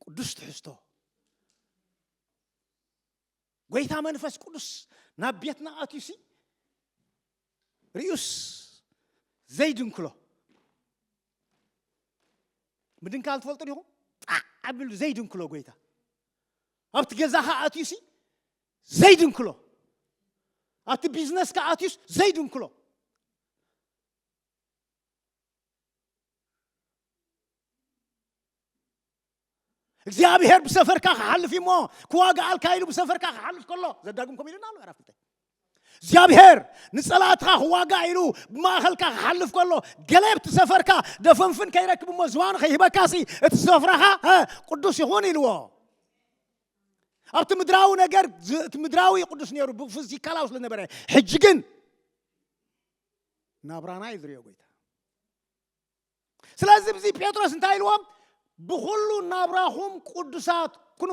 ቅዱስ ትሕዝቶ ጎይታ መንፈስ ቅዱስ ናብ ቤትና ኣትዩ ሲ ርዩስ ዘይድንክሎ ምድንካል ትፈልጡ ዲኹም ጣዕ ኣቢሉ ዘይድንክሎ ጎይታ ኣብቲ ገዛኻ ኣትዩሲ ዘይድንክሎ ኣብቲ ቢዝነስካ ኣትዩስ ዘይድንክሎ እግዚኣብሔር ብሰፈርካ ክሓልፍ እሞ ክዋግኣልካ ኢሉ ብሰፈርካ ክሓልፍ ከሎ ዘዳግም ከምኡ ኢሉና ኣሎ ዕራፍተ እግዚኣብሔር ንጸላእትኻ ክዋጋእ ኢሉ ብማእኸልካ ክሓልፍ ከሎ ገለ ኣብቲ ሰፈርካ ደፈንፍን ከይረክብ እሞ ዝባኑ ከይህበካሲ እቲ ሰፍራኻ ቅዱስ ይኹን ኢልዎ ኣብቲ ምድራዊ ነገር እቲ ምድራዊ ቅዱስ ነይሩ ብፊዚካላዊ ስለ ነበረ ሕጂ ግን ናብራና እዩ ዝሪኦ ጎይታ ስለዚ ብዚ ጴጥሮስ እንታይ ኢልዎም ብኩሉ ናብራኹም ቅዱሳት ኩኑ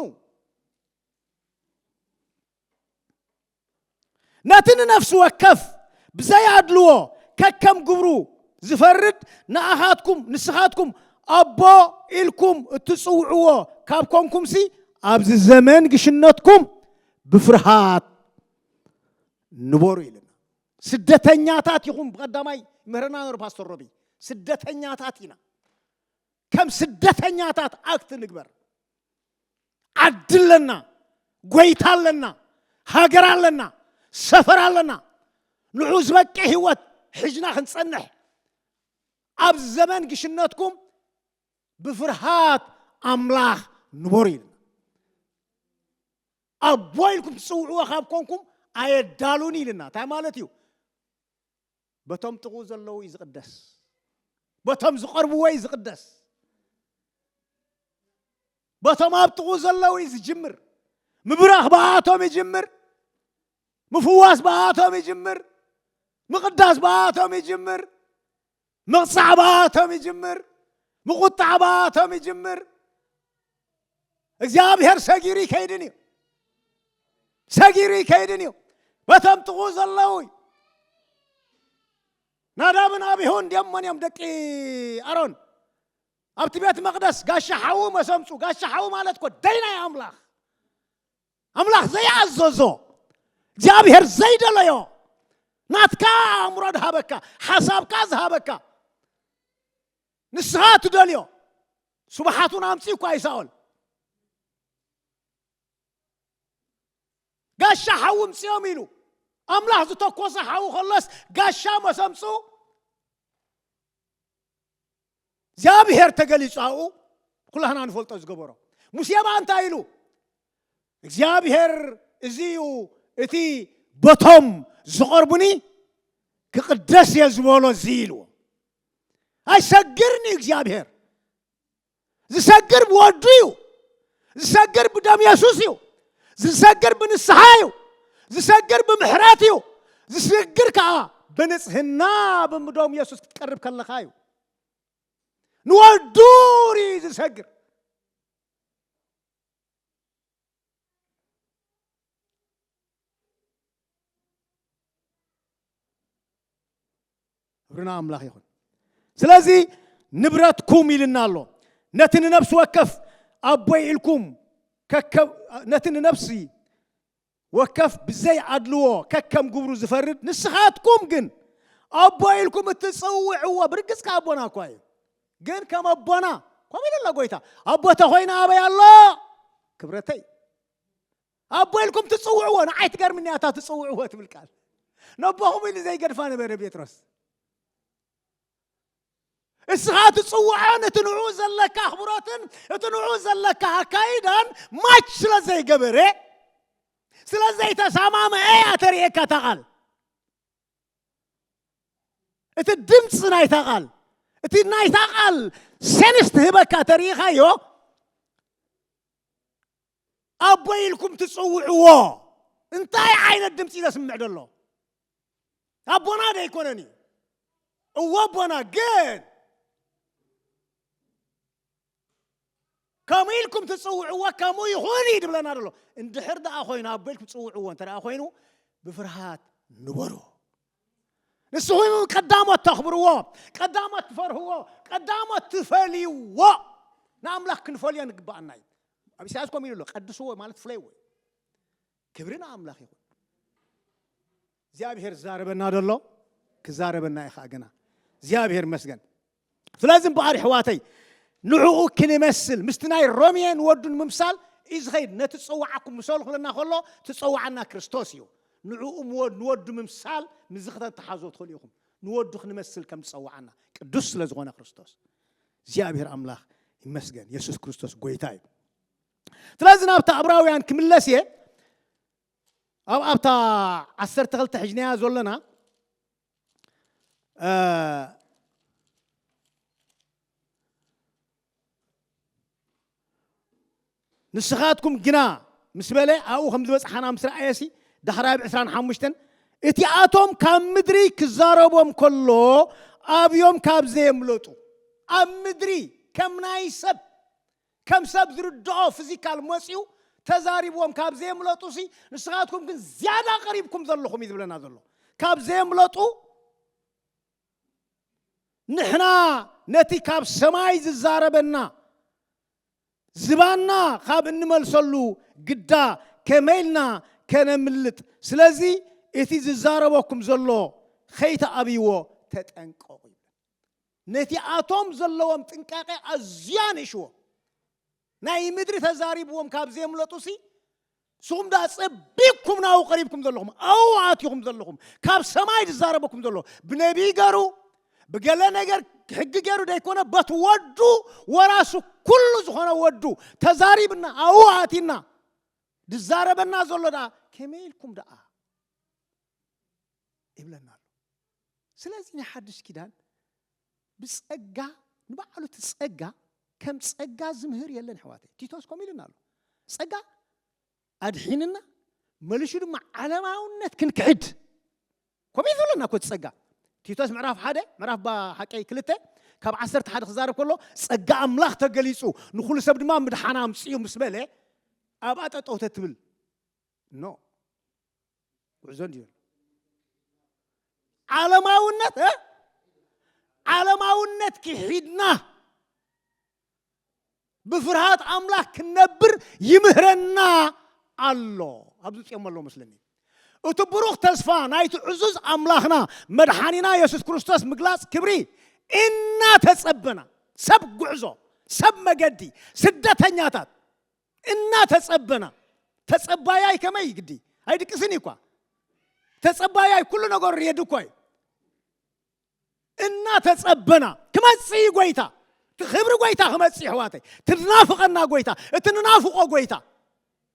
ነቲ ንነፍሲ ወከፍ ብዘይ ኣድልዎ ከከም ግብሩ ዝፈርድ ንኣኻትኩም ንስኻትኩም ኣቦ ኢልኩም እትፅውዕዎ ካብ ኮንኩምሲ ኣብዚ ዘመን ግሽነትኩም ብፍርሃት ንበሩ ኢልና ስደተኛታት ይኹን ብቀዳማይ ምህረና ነሩ ፓስተር ሮቢ ስደተኛታት ኢና ከም ስደተኛታት ኣክት ንግበር ዓዲ ኣለና ጎይታ ኣለና ሃገር ኣለና ሰፈር ኣለና ንዑ ዝበቂ ህይወት ሕጅና ክንጸንሕ ኣብ ዘመን ግሽነትኩም ብፍርሃት ኣምላኽ ንበሩ ኢልና ኣቦ ኢልኩም ትጽውዕዎ ካብ ኮንኩም ኣየዳሉን ኢልና እንታይ ማለት እዩ በቶም ጥቕኡ ዘለዉ እዩ ዝቕደስ በቶም ዝቐርብዎ እዩ ዝቕደስ በቶም ኣብ ጥቕኡ ዘለዉ እዩ ዝጅምር ምብራኽ ብኣቶም ይጅምር ምፍዋስ ብኣቶም ይጅምር ምቕዳስ ብኣቶም ይጅምር ምቕጻዕ ብኣቶም ይጅምር፣ ምቑጣዕ ብኣቶም ይጅምር። እግዚኣብሔር ሰጊሩ ይከይድን እዩ፣ ሰጊሩ ይከይድን እዩ። በቶም ጥቑ ዘለዉ እዩ። ናዳብን ኣቢሁን እንዲኦም መን እዮም ደቂ ኣሮን? ኣብቲ ቤት መቕደስ ጋሻ ሓዉ መሰምፁ። ጋሻ ሓዉ ማለት እኮ ደይናይ ኣምላኽ ኣምላኽ ዘይኣዘዞ እግዚኣብሔር ዘይደለዮ ናትካ ኣእምሮ ድሃበካ ሓሳብካ ዝሃበካ ንስኻ ትደልዮ ስብሓቱን ኣምፅኡ እኳ ይሳኦል ጋሻ ሓዊ ምፅኦም ኢሉ ኣምላኽ ዝተኮሰ ሓዊ ከሎስ ጋሻ መሰምፁ እግዚኣብሄር ተገሊጹ ኣብኡ ኩላህና ንፈልጦ ዝገበሮ ሙሴ ብኣ እንታይ ኢሉ እግዚኣብሄር እዚ እዩ እቲ በቶም ዝቐርቡኒ ክቕደስ እየ ዝበሎ እዚ ኢልዎ ኣይሰግርን እዩ እግዚኣብሄር ዝሰግር ብወዱ እዩ ዝሰግር ብደም የሱስ እዩ ዝሰግር ብንስሓ እዩ ዝሰግር ብምሕረት እዩ ዝሰግር ከዓ ብንጽህና ብምዶም የሱስ ክትቀርብ ከለኻ እዩ ንወዱ ርኢ ዝሰግር ክብሪ ንኣምላኽ ይኹን። ስለዚ ንብረትኩም ኢልና ኣሎ ነቲ ንነፍሲ ወከፍ ኣቦይ ኢልኩም ነቲ ንነፍሲ ወከፍ ብዘይ ኣድልዎ ከከም ግብሩ ዝፈርድ ንስኻትኩም ግን ኣቦ ኢልኩም እትፅውዕዎ ብርግፅ ከ ኣቦና እኳ እዩ ግን ከም ኣቦና ከምኡ ኢሉ ኣሎ ጎይታ ኣቦ ተኾይነ ኣበይ ኣሎ ክብረተይ ኣቦ ኢልኩም ትጽውዕዎ ንዓይ ትገርምኒ እያ እታ ትጽውዕዎ ትብል ቃል ነቦኹም ኢሉ ዘይገድፋ ነበረ ጴጥሮስ እስኻ ትጽውዖን እቲ ንዕኡ ዘለካ ኣኽብሮትን እቲ ንዕኡ ዘለካ ኣካይዳን ማች ስለ ዘይገበረ ስለ ዘይተሰማምዐ እያ ተርእየካ እታ ቃል እቲ ድምፂ ናይታ ቃል እቲ ናይታ ቃል ሴንስ ትህበካ ተርኢኻዮ ኣቦይ ኢልኩም ትጽውዕዎ እንታይ ዓይነት ድምፂ ዘስምዕ ደሎ ኣቦና ዶ ኣይኮነን እዩ እዎ ኣቦና ግን ከምኡ ኢልኩም ትፅውዕዎ ከምኡ ይኹን እዩ ድብለና ደሎ እንድሕር ደኣ ኮይኑ ኣቦ ኢልኩም ትፅውዕዎ እንተ ኮይኑ ብፍርሃት ንበሩ ንስኹም ቀዳሞት ተኽብርዎ፣ ቀዳሞት ትፈርህዎ፣ ቀዳሞት ትፈልይዎ ንኣምላኽ ክንፈልዮ ንግብኣና እዩ። ኣብ ኢሳያስ ኮም ኢሉ ኣሎ ቀድስዎ ማለት ፍለይዎ እዩ። ክብሪ ንኣምላኽ ይኹን። እግዚኣብሔር ዝዛረበና ደሎ ክዛረበና እዩ ከዓ ግና እግዚኣብሔር መስገን ስለዚ እምበኣር የሕዋተይ ንዕኡ ክንመስል ምስቲ ናይ ሮሜ ንወዱ ንምምሳል እዩ ዝኸይድ ነቲ ዝጸዋዓኩም ምሰሉ ክብለና ከሎ ትጸዋዓና ክርስቶስ እዩ ንዕኡ ንወዱ ምምሳል ምዚ ክተተሓዞ ትኽእሉ ኢኹም ንወዱ ክንመስል ከም ዝጸዋዓና ቅዱስ ስለ ዝኾነ ክርስቶስ እግዚኣብሔር ኣምላኽ ይመስገን የሱስ ክርስቶስ ጎይታ እዩ ስለዚ ናብታ ኣብራውያን ክምለስ እየ ኣብ ኣብታ ዓሰርተ ክልተ ሕጅናያ ዘሎና ንስኻትኩም ግና ምስ በለ ኣብኡ ከም ዝበፅሓና ምስ ረኣየሲ ዳሕራይ ብ 25 እቲኣቶም ካብ ምድሪ ክዛረቦም ከሎ ኣብዮም ካብ ዘየምለጡ ኣብ ምድሪ ከም ናይ ሰብ ከም ሰብ ዝርድኦ ፍዚካል መጽዩ ተዛሪብዎም ካብ ዘየምለጡሲ ንስኻትኩም ግን ዝያዳ ቀሪብኩም ዘለኹም እዩ ዝብለና ዘሎ ካብ ዘየምለጡ ንሕና ነቲ ካብ ሰማይ ዝዛረበና ዝባና ካብ እንመልሰሉ ግዳ ከመይ ኢልና ከነምልጥ ስለዚ እቲ ዝዛረበኩም ዘሎ ከይተኣብይዎ ተጠንቀቑ ይብለና ነቲኣቶም ዘለዎም ጥንቃቐ ኣዝዩ ኣንእሽዎ ናይ ምድሪ ተዛሪብዎም ካብ ዘየምለጡሲ ንስኹም ደኣ ጸቢብኩም ናብኡ ቀሪብኩም ዘለኹም ኣብኡ ኣትኹም ዘለኹም ካብ ሰማይ ዝዛረበኩም ዘሎ ብነቢይ ገሩ ብገለ ነገር ሕጊ ገሩ ዘይኮነ በት ወዱ ወራሱ ኩሉ ዝኾነ ወዱ ተዛሪብና ኣብኡ ኣቲና ዝዛረበና ዘሎ ደኣ ከመይ ኢልኩም ደኣ ይብለና ኣሎ ስለዚ ናይ ሓድሽ ኪዳን ብጸጋ ንባዕሉ እቲ ጸጋ ከም ጸጋ ዝምህር የለን ኣሕዋተይ ቲቶስ ከምኡ ኢሉና ኣሎ ጸጋ ኣድሒንና መልሹ ድማ ዓለማውነት ክንክሕድ ከምኡ ዝብለና እኮ ጸጋ ቲቶስ ምዕራፍ ሓደ ምዕራፍ ሓቀይ ክልተ ካብ ዓሰርተ ሓደ ክዛረብ ከሎ ጸጋ ኣምላኽ ተገሊጹ ንኩሉ ሰብ ድማ ምድሓና ኣምፅኡ ምስ በለ ኣብኣ ጠጠውተ ትብል ኖ ጉዕዞ እንዲዩ ዘሎ ዓለማውነት እ ዓለማውነት ክሒድና ብፍርሃት ኣምላኽ ክንነብር ይምህረና ኣሎ ኣብዚ ፅኦም ኣሎ መስለኒ እቲ ብሩኽ ተስፋ ናይቲ ዕዙዝ ኣምላኽና መድሓኒና የሱስ ክርስቶስ ምግላፅ ክብሪ እናተጸበና ሰብ ጉዕዞ ሰብ መገዲ ስደተኛታት እና ተጸበና ተጸባያይ ከመይ ግዲ ኣይድቅስን እዩ እኳ ተጸባያይ ኩሉ ነገሩ ሬድ እኳ እዩ እና ተጸበና ክመጽእ እዩ ጎይታ እቲ ክብሪ ጎይታ ክመጽእ እዩ ኣሕዋተይ ትናፍቐና ጎይታ እቲ ንናፍቖ ጎይታ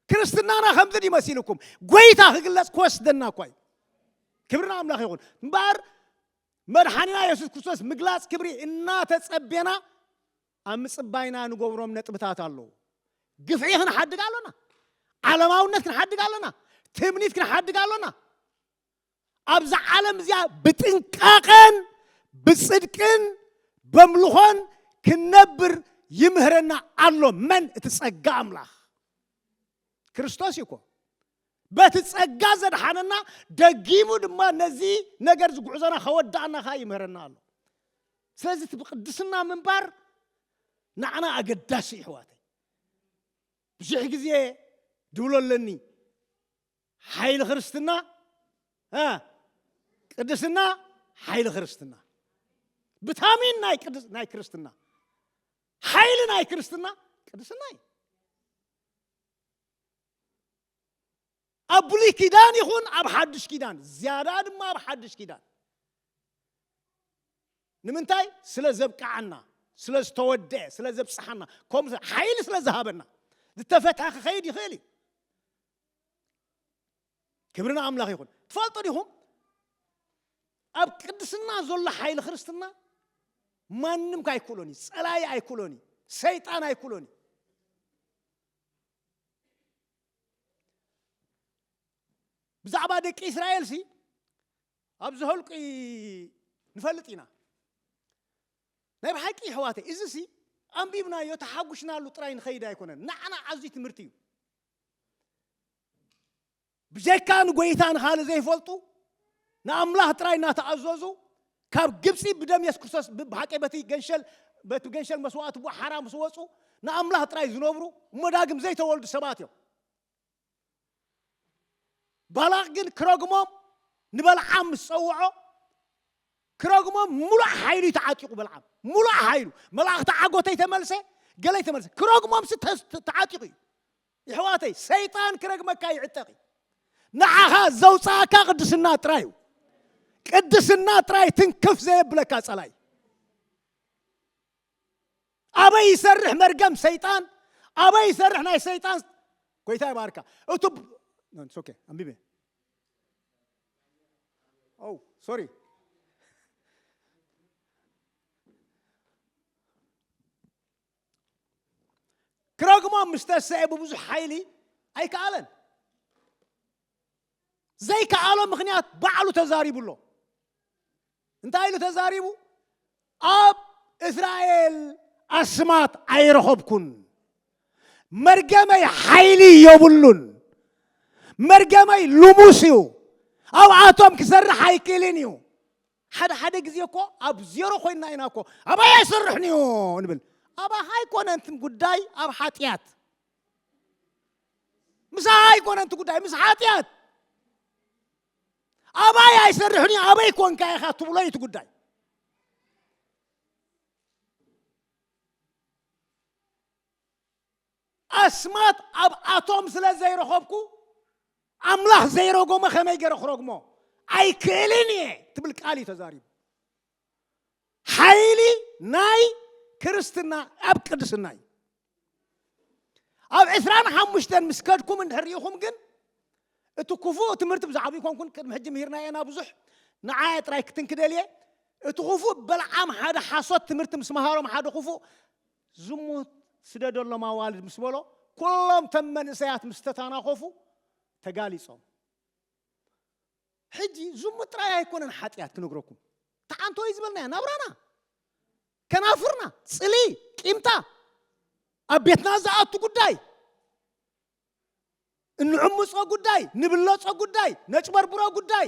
ክርስትናና ከምዚ ድዩ መሲልኩም ጎይታ ክግለጽ ክወስደና እኳ እዩ ክብሪ ንኣምላኽ ይኹን እምበኣር መድሓኒና የሱስ ክርስቶስ ምግላጽ ክብሪ እናተጸቤና ኣብ ምጽባይና ንገብሮም ነጥብታት ኣለዉ። ግፍዒ ክንሓድግ ኣሎና። ዓለማውነት ክንሓድግ ኣሎና። ትምኒት ክንሓድግ ኣሎና። ኣብዛ ዓለም እዚኣ ብጥንቃቐን ብጽድቅን በምልኾን ክንነብር ይምህረና ኣሎ። መን? እቲ ጸጋ ኣምላኽ ክርስቶስ እዩ እኮ። በቲ ጸጋ ዘድሓነና ደጊሙ ድማ ነዚ ነገር እዚ ጉዕዞና ከወዳእና ከኣ ይምህረና ኣሎ ስለዚ እቲ ብቅድስና ምንባር ንዓና ኣገዳሲ ይሕዋተይ ብዙሕ ግዜ ድብሎ ኣለኒ ሓይሊ ክርስትና ቅድስና ሓይሊ ክርስትና ብታሚን ናይ ቅድስ ናይ ክርስትና ሓይሊ ናይ ክርስትና ቅድስና እዩ ኣብ ብሉይ ኪዳን ይኹን ኣብ ሓዱሽ ኪዳን ዝያዳ ድማ ኣብ ሓዱሽ ኪዳን ንምንታይ ስለ ዘብቅዓና ስለ ዝተወድአ ስለ ዘብፅሓና ከምኡ ሓይሊ ስለ ዝሃበና ዝተፈትሐ ክኸይድ ይኽእል እዩ ክብሪ ንኣምላኽ ይኹን ትፈልጡ ዲኹም ኣብ ቅድስና ዘሎ ሓይሊ ክርስትና ማንም ከ ኣይክእሎን እዩ ፀላኢ ኣይክእሎን እዩ ሰይጣን ኣይክእሎን እዩ ብዛዕባ ደቂ እስራኤልሲ ኣብ ዝህልቂ ንፈልጥ ኢና ናይ ብሓቂ ኣሕዋተይ እዚ ሲ ኣንቢብናዮ ተሓጒስናሉ ጥራይ ንኸይድ ኣይኮነን ንዓና ዓዙይ ትምህርቲ እዩ ብጀካ ንጎይታ ንኻልእ ዘይፈልጡ ንኣምላኽ ጥራይ እናተኣዘዙ ካብ ግብጺ ብደም የሱስ ክርስቶስ ብሓቂ በቲ ገንሸል በቲ ገንሸል መስዋእቲ ቡእ ሓራ ምስ ወጹ ንኣምላኽ ጥራይ ዝነብሩ እሞ ዳግም ዘይተወልዱ ሰባት እዮም። ባላቅ ግን ክረግሞም ንበልዓም ምስ ጸውዖ ክረግሞም ሙሉእ ሓይሉ ተዓጢቑ በልዓም ሙሉእ ሓይሉ መላእኽቲ ዓጎተይ ተመልሰ ገለይ ተመልሰ ክረግሞም ሲ ተዓጢቑ እዩ የሕዋተይ ሰይጣን ክረግመካ ይዕጠቅ እዩ ንዓኻ ዘውጻኣካ ቅድስና ጥራይ እዩ ቅድስና ጥራይ ትንክፍ ዘየብለካ ጸላይ ኣበይ ይሰርሕ መርገም ሰይጣን ኣበይ ይሰርሕ ናይ ሰይጣን ጎይታ ይባርካ እቱ ኦኬ ኣንቢበ ኦ ሶሪ ክረግሞም ምስ ተሰኤ ብብዙሕ ሓይሊ ኣይከኣለን ዘይከኣሎ ምክንያት ባዕሉ ተዛሪቡ ኣሎ እንታይ ኢሉ ተዛሪቡ ኣብ እስራኤል ኣስማት ኣይረኸብኩን መርገመይ ሓይሊ የብሉን መርገመይ ልሙስ እዩ ኣብኣቶም ክሰርሕ ኣይክእልን እዩ ሓደ ሓደ ግዜ እኮ ኣብ ዜሮ ኮይንና ኢና እኮ ኣባይ ኣይሰርሕን እዩ ንብል ኣባኻ ኣይኮነን እቲ ጉዳይ ኣብ ሓጢኣት ምሳኻ ኣይኮነን እቲ ጉዳይ ምስ ሓጢኣት ኣባይ ኣይሰርሕን እዩ ኣበይ ኮንካ ኢኻ ትብሎ እዩ እቲ ጉዳይ ኣስማት ኣብ ኣቶም ስለ ዘይረኸብኩ ኣምላኽ ዘይረጎመ ከመይ ገይረ ክረግሞ ኣይክእልን እየ ትብል ቃል እዩ ተዛሪቡ ሓይሊ ናይ ክርስትና ኣብ ቅድስና እዩ ኣብ ዕስራን ሓሙሽተን ምስ ከድኩም እንድሕር ኢኹም ግን እቲ ክፉእ ትምህርቲ ብዛዕባ ይኮንኩን ቅድሚ ሕጂ ምሂርና እየና ብዙሕ ንዓየ ጥራይ ክትንክደል እየ እቲ ክፉእ በልዓም ሓደ ሓሶት ትምህርቲ ምስ መሃሮም ሓደ ክፉእ ዝሙት ስደደሎም ኣዋልድ ምስ በሎ ኩሎም እቶም መንእሰያት ምስ ተታናኾፉ ተጋሊጾም። ሕጂ ዝሙት ጥራይ ኣይኮነን ሓጢኣት ክነግረኩም ተዓንቶ እዩ ዝበልናያ ናብራና ከናፍርና ጽሊ ቂምታ ኣብ ቤትና ዝኣቱ ጉዳይ እንዕምጾ ጉዳይ ንብለጾ ጉዳይ ነጭበርብሮ ጉዳይ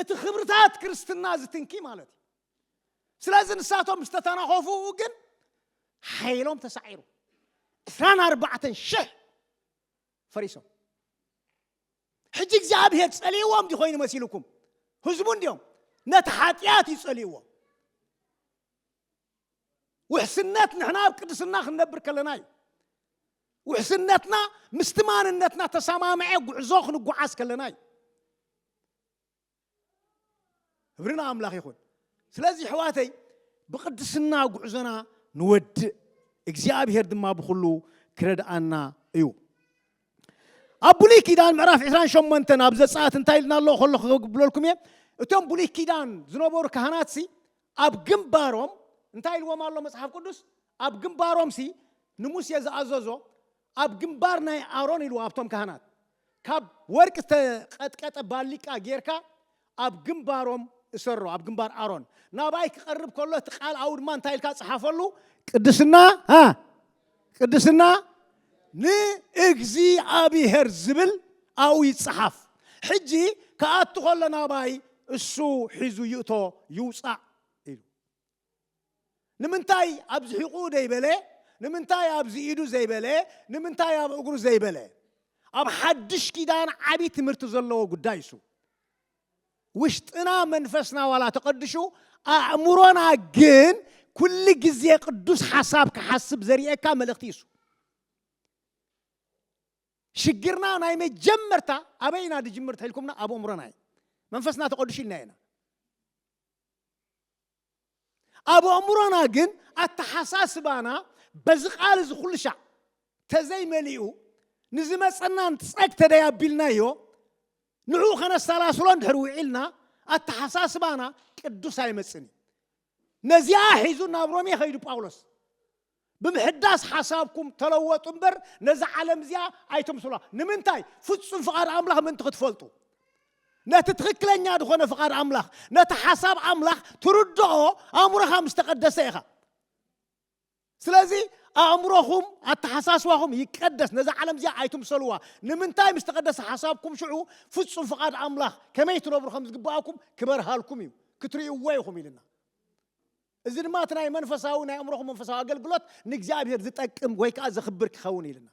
እቲ ክብርታት ክርስትና ዝትንኪ ማለት እዩ ስለዚ ንሳቶም ምስ ተተናኸፉ ግን ሓይሎም ተሳዒሩ ዕስራን ኣርባዕተን ሽሕ ፈሪሶም ሕጂ እግዚኣብሄር ጸልይዎም ዲ ኮይኑ መሲልኩም ህዝቡ እንዲዮም ነቲ ሓጢኣት እዩ ጸልይዎ ውሕስነት ንሕና ኣብ ቅድስና ክንነብር ከለና እዩ። ውሕስነትና ምስቲ ማንነትና ተሰማምዐ ጉዕዞ ክንጓዓዝ ከለና እዩ። ክብሪ ንኣምላኽ ይኹን። ስለዚ ኣሕዋተይ ብቅድስና ጉዕዞና ንወድእ፣ እግዚኣብሄር ድማ ብኹሉ ክረድኣና እዩ። ኣብ ብሉይ ኪዳን ምዕራፍ 28 ኣብ ዘፀኣት እንታይ ኢልና ኣሎ ከሎ ክብለልኩም እየ እቶም ብሉይ ኪዳን ዝነበሩ ካህናትሲ ኣብ ግንባሮም እንታይ ኢልዎም ኣሎ መጽሓፍ ቅዱስ? ኣብ ግንባሮምሲ ንሙሴ ዝኣዘዞ ኣብ ግንባር ናይ ኣሮን ኢልዎ ኣብቶም ካህናት ካብ ወርቂ ዝተቐጥቀጠ ባሊቃ ጌርካ ኣብ ግንባሮም እሰሮ ኣብ ግንባር ኣሮን ናባይ ክቐርብ ከሎ እቲ ቃል ኣብኡ ድማ እንታይ ኢልካ ጽሓፈሉ ቅድስና ቅድስና ንእግዚኣብሄር ዝብል ኣብኡ ይጸሓፍ። ሕጂ ክኣቱ ከሎ ናባይ እሱ ሒዙ ይእቶ ይውጻእ ኢሉ። ንምንታይ ኣብዚ ሒቑኡ ዘይበለ? ንምንታይ ኣብዚ ኢዱ ዘይበለ? ንምንታይ ኣብ እግሩ ዘይበለ? ኣብ ሓድሽ ኪዳን ዓቢ ትምህርቲ ዘለዎ ጉዳይ እሱ። ውሽጥና መንፈስና ዋላ ተቐድሹ ኣእምሮና ግን ኩሉ ግዜ ቅዱስ ሓሳብ ክሓስብ ዘርእየካ መልእኽቲ እዩ እሱ። ሽግርና ናይ መጀመርታ ኣበይ ኢና ድጅምር ተልኩምና ኣብ ኣእምሮና እዩ መንፈስና ተቐድሹ ኢልና ኢና ኣብ ኣእምሮና ግን ኣተሓሳስባና በዚ ቃል እዚ ኩሉ ሻዕ ተዘይመሊኡ ንዝመጸና ጸግ ተደይ ኣቢልናዮ ንዕኡ ከነሰላስሎ እንድሕር ውዒልና ኣተሓሳስባና ቅዱስ ኣይመጽን እዩ ነዚኣ ሒዙ ናብ ሮሜ ኸይዱ ጳውሎስ ብምሕዳስ ሓሳብኩም ተለወጡ እምበር ነዛ ዓለም እዚኣ ኣይትምስሉዋ። ንምንታይ? ፍጹም ፍቓድ ኣምላኽ ምእንቲ ክትፈልጡ። ነቲ ትኽክለኛ ዝኾነ ፍቓድ ኣምላኽ፣ ነቲ ሓሳብ ኣምላኽ ትርድኦ ኣእምሮኻ ምስ ተቐደሰ ኢኻ። ስለዚ ኣእምሮኹም፣ ኣተሓሳስባኹም ይቀደስ፣ ነዛ ዓለም እዚኣ ኣይትምሰሉዋ። ንምንታይ? ምስ ተቐደሰ ሓሳብኩም ሽዑ ፍጹም ፍቓድ ኣምላኽ ከመይ ትነብሩ ከም ዝግብኣኩም ክበርሃልኩም እዩ፣ ክትርእይዎ ኢኹም ኢሉና። እዚ ድማ እቲ ናይ መንፈሳዊ ናይ ኣእምሮኹም መንፈሳዊ ኣገልግሎት ንእግዚኣብሔር ዝጠቅም ወይ ከዓ ዘኽብር ክኸውን ኢልና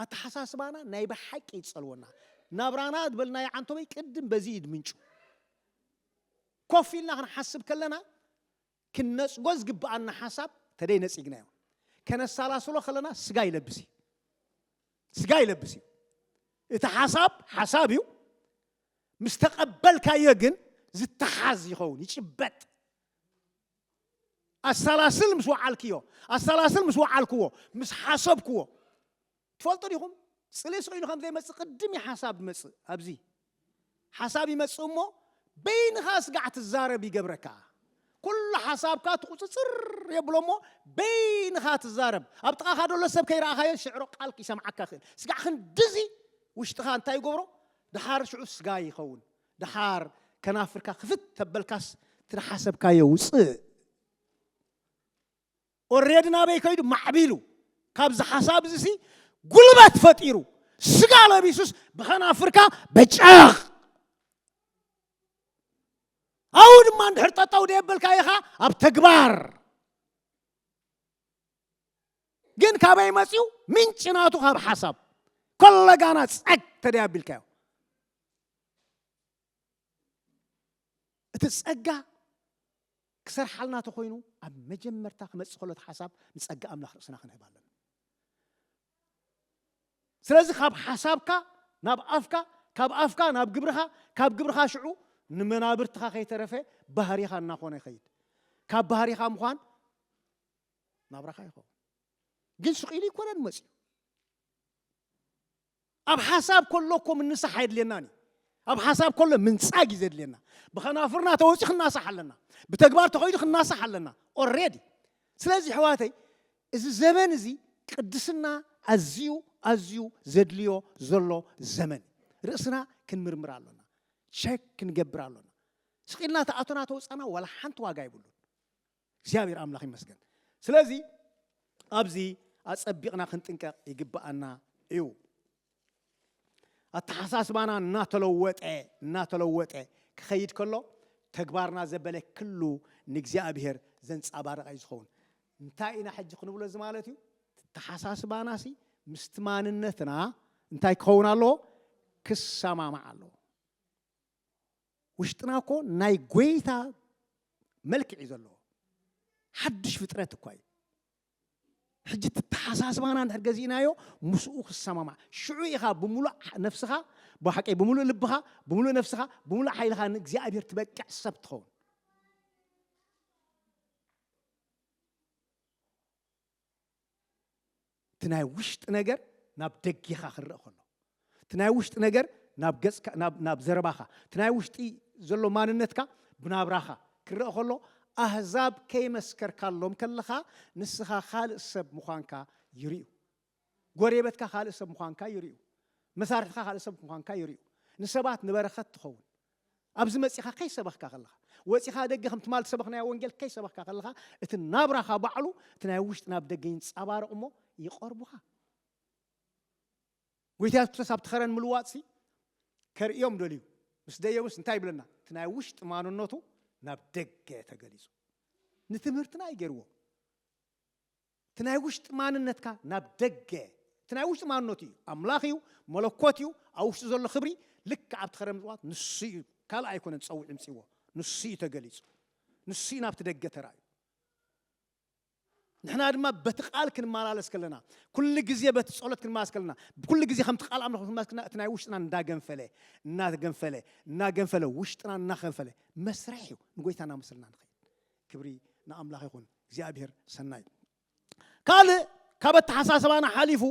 ኣተሓሳስባና ናይ ብሓቂ ይጸልወና ናብራና ዝበልናዮ ዓንቶበይ ቅድም በዚ እዩ ምንጩ ኮፍ ኢልና ክንሓስብ ከለና ክንነጽጎ ዝግብኣና ሓሳብ ተደይ ነጺግናዮ ከነሳላስሎ ከለና ስጋ ይለብስ እዩ ስጋ ይለብስ እዩ እቲ ሓሳብ ሓሳብ እዩ ምስ ተቐበልካዮ ግን ዝተሓዝ ይኸውን፣ ይጭበጥ። ኣሰላስል ምስ ወዓልክዮ፣ ኣሰላስል ምስ ወዓልክዎ፣ ምስ ሓሰብክዎ፣ ትፈልጡ ዲኹም ጽሌ ስቕ ኢሉ ከም ዘይመጽእ ቅድም እዩ ሓሳብ ዝመጽእ። ኣብዚ ሓሳብ ይመጽእ እሞ በይንኻ ስጋዕ ትዛረብ ይገብረካ። ኩሉ ሓሳብካ ትቑጽጽር የብሎ እሞ በይንኻ ትዛረብ። ኣብ ጥቓኻ ደሎ ሰብ ከይረኣኻዮ ሽዕሮ ቃል ይሰምዓካ ይኽእል። ስጋዕ ክንድዚ ውሽጥኻ እንታይ ይገብሮ? ደሓር ሽዑስ ጋይ ይኸውን። ደሓር ከናፍርካ ክፍት ተበልካስ እቲ ደሓሰብካዮ ውጽእ ኦሬዲ ናበይ ከይዱ ማዕቢሉ ካብዚ ሓሳብ እዚ ሲ ጉልበት ፈጢሩ ስጋ ለቢሱስ ብኸናፍርካ በጨቕ ኣብኡ ድማ እንድሕር ጠጠው ደየበልካ ኢኻ ኣብ ተግባር ግን ካበይ መፅኡ ምንጭ ናቱ ካብ ሓሳብ ኮለጋና ፀግ ተደይ ኣቢልካዮ እቲ ፀጋ ክሰርሓልና ተኮይኑ ኣብ መጀመርታ ክመፅእ ከሎ እቲ ሓሳብ ንፀጋ ኣምላኽ ርእስና ክንህብ ኣለና ስለዚ ካብ ሓሳብካ ናብ ኣፍካ ካብ ኣፍካ ናብ ግብርኻ ካብ ግብርኻ ሽዑ ንመናብርትኻ ከይተረፈ ባህሪኻ እናኾነ ይኸይድ ካብ ባህሪኻ ምዃን ናብራኻ ይኸውን ግን ስቂሉ ይኮነን መፅዩ ኣብ ሓሳብ ከሎ እኮ ምንሳሕ ኣየድልየናን እዩ ኣብ ሓሳብ ከሎ ምንፃግ እዩ ዘድልየና ብኸናፍርና ተወፂ ክናሳሕ ኣለና ብተግባር ተኸይዱ ክናሳሕ ኣለና ኦሬዲ ስለዚ ሕዋተይ እዚ ዘመን እዚ ቅድስና ኣዝዩ ኣዝዩ ዘድልዮ ዘሎ ዘመን ርእስና ክንምርምር ኣሎና ሸክ ክንገብር ኣሎና ስቂልና ተኣቶና ተወፃና ዋላ ሓንቲ ዋጋ ይብሉን እግዚኣብሔር ኣምላኽ ይመስገን። ስለዚ ኣብዚ ኣጸቢቕና ክንጥንቀቕ ይግብኣና እዩ። ኣተሓሳስባና እናተለወጠ እናተለወጠ ክኸይድ ከሎ ተግባርና ዘበለ ክሉ ንእግዚኣብሔር ዘንጻባርቕ እዩ ዝኸውን። እንታይ ኢና ሕጂ ክንብሎ እዚ ማለት እዩ ተሓሳስባና ሲ ምስቲ ማንነትና እንታይ ክኸውን ኣለዎ ክሰማማዕ ኣለዎ። ውሽጥና እኮ ናይ ጎይታ መልክዕ እዩ ዘለዎ ሓድሽ ፍጥረት እኳ እዩ ሕጂ ተተሓሳስባና እንድሕር ገዚእናዮ ምስኡ ክሰማማዕ ሽዑ ኢኻ ብምሉእ ነፍስኻ ብሓቀይ ብምሉእ ልብኻ ብምሉእ ነፍስኻ ብምሉእ ሓይልኻ ንእግዚኣብሔር ትበቅዕ ሰብ ትኸውን እቲ ናይ ውሽጢ ነገር ናብ ደጊኻ ክረእ ከሎ እቲ ናይ ውሽጢ ነገር ናብ ገጽካ ናብ ዘረባኻ እቲ ናይ ውሽጢ ዘሎ ማንነትካ ብናብራኻ ክረእ ከሎ ኣህዛብ ከይመስከርካሎም ከለኻ ንስኻ ካልእ ሰብ ምዃንካ ይርዩ ጎሬበትካ ካልእ ሰብ ምዃንካ ይርዩ መሳርሕትካ ካልእ ሰብ ምዃንካ ይርዩ ንሰባት ንበረኸት ትኸውን ኣብዚ መጺኻ ከይሰበኽካ ከለኻ፣ ወጺኻ ደገ ከም ትማል ዝሰበኽናዮ ወንጌል ከይሰበኽካ ከለኻ፣ እቲ ናብራኻ ባዕሉ እቲ ናይ ውሽጢ ናብ ደገ ይንጻባረቕ እሞ ይቐርቡኻ። ጎይታ የሱስ ክርስቶስ ኣብቲ ከረን ምልዋጥሲ ከርእዮም ደልዩ ምስ ደየቡስ እንታይ ይብለና? እቲ ናይ ውሽጢ ማንነቱ ናብ ደገ ተገሊጹ። ንትምህርትና እዩ ገይርዎ። እቲ ናይ ውሽጢ ማንነትካ ናብ ደገ እቲ ናይ ውሽጢ ማንነቱ እዩ ኣምላኽ እዩ መለኮት እዩ ኣብ ውሽጢ ዘሎ ክብሪ ልክዕ ኣብቲ ከረ ምጽዋት ንሱ እዩ ካልእ ኣይኮነን ጸዊዑ ምጽዎ ንሱ እዩ ተገሊጹ ንሱ እዩ ናብቲ ደገ ተራእዩ ንሕና ድማ በቲ ቃል ክንመላለስ ከለና ኩሉ ግዜ በቲ ጸሎት ክንመላለስ ከለና ኩሉ ግዜ ከምቲ ቃል ኣምላኽ ክንመላለስ ከለና እቲ ናይ ውሽጥና እንዳገንፈለ እናገንፈለ እናገንፈለ ውሽጥና እናኸንፈለ መስርሕ እዩ ንጎይታ እናመስልና ንኸይድ ክብሪ ንኣምላኽ ይኹን እግዚኣብሔር ሰናይ ካልእ ካብ ኣተሓሳሰባና ሓሊፉ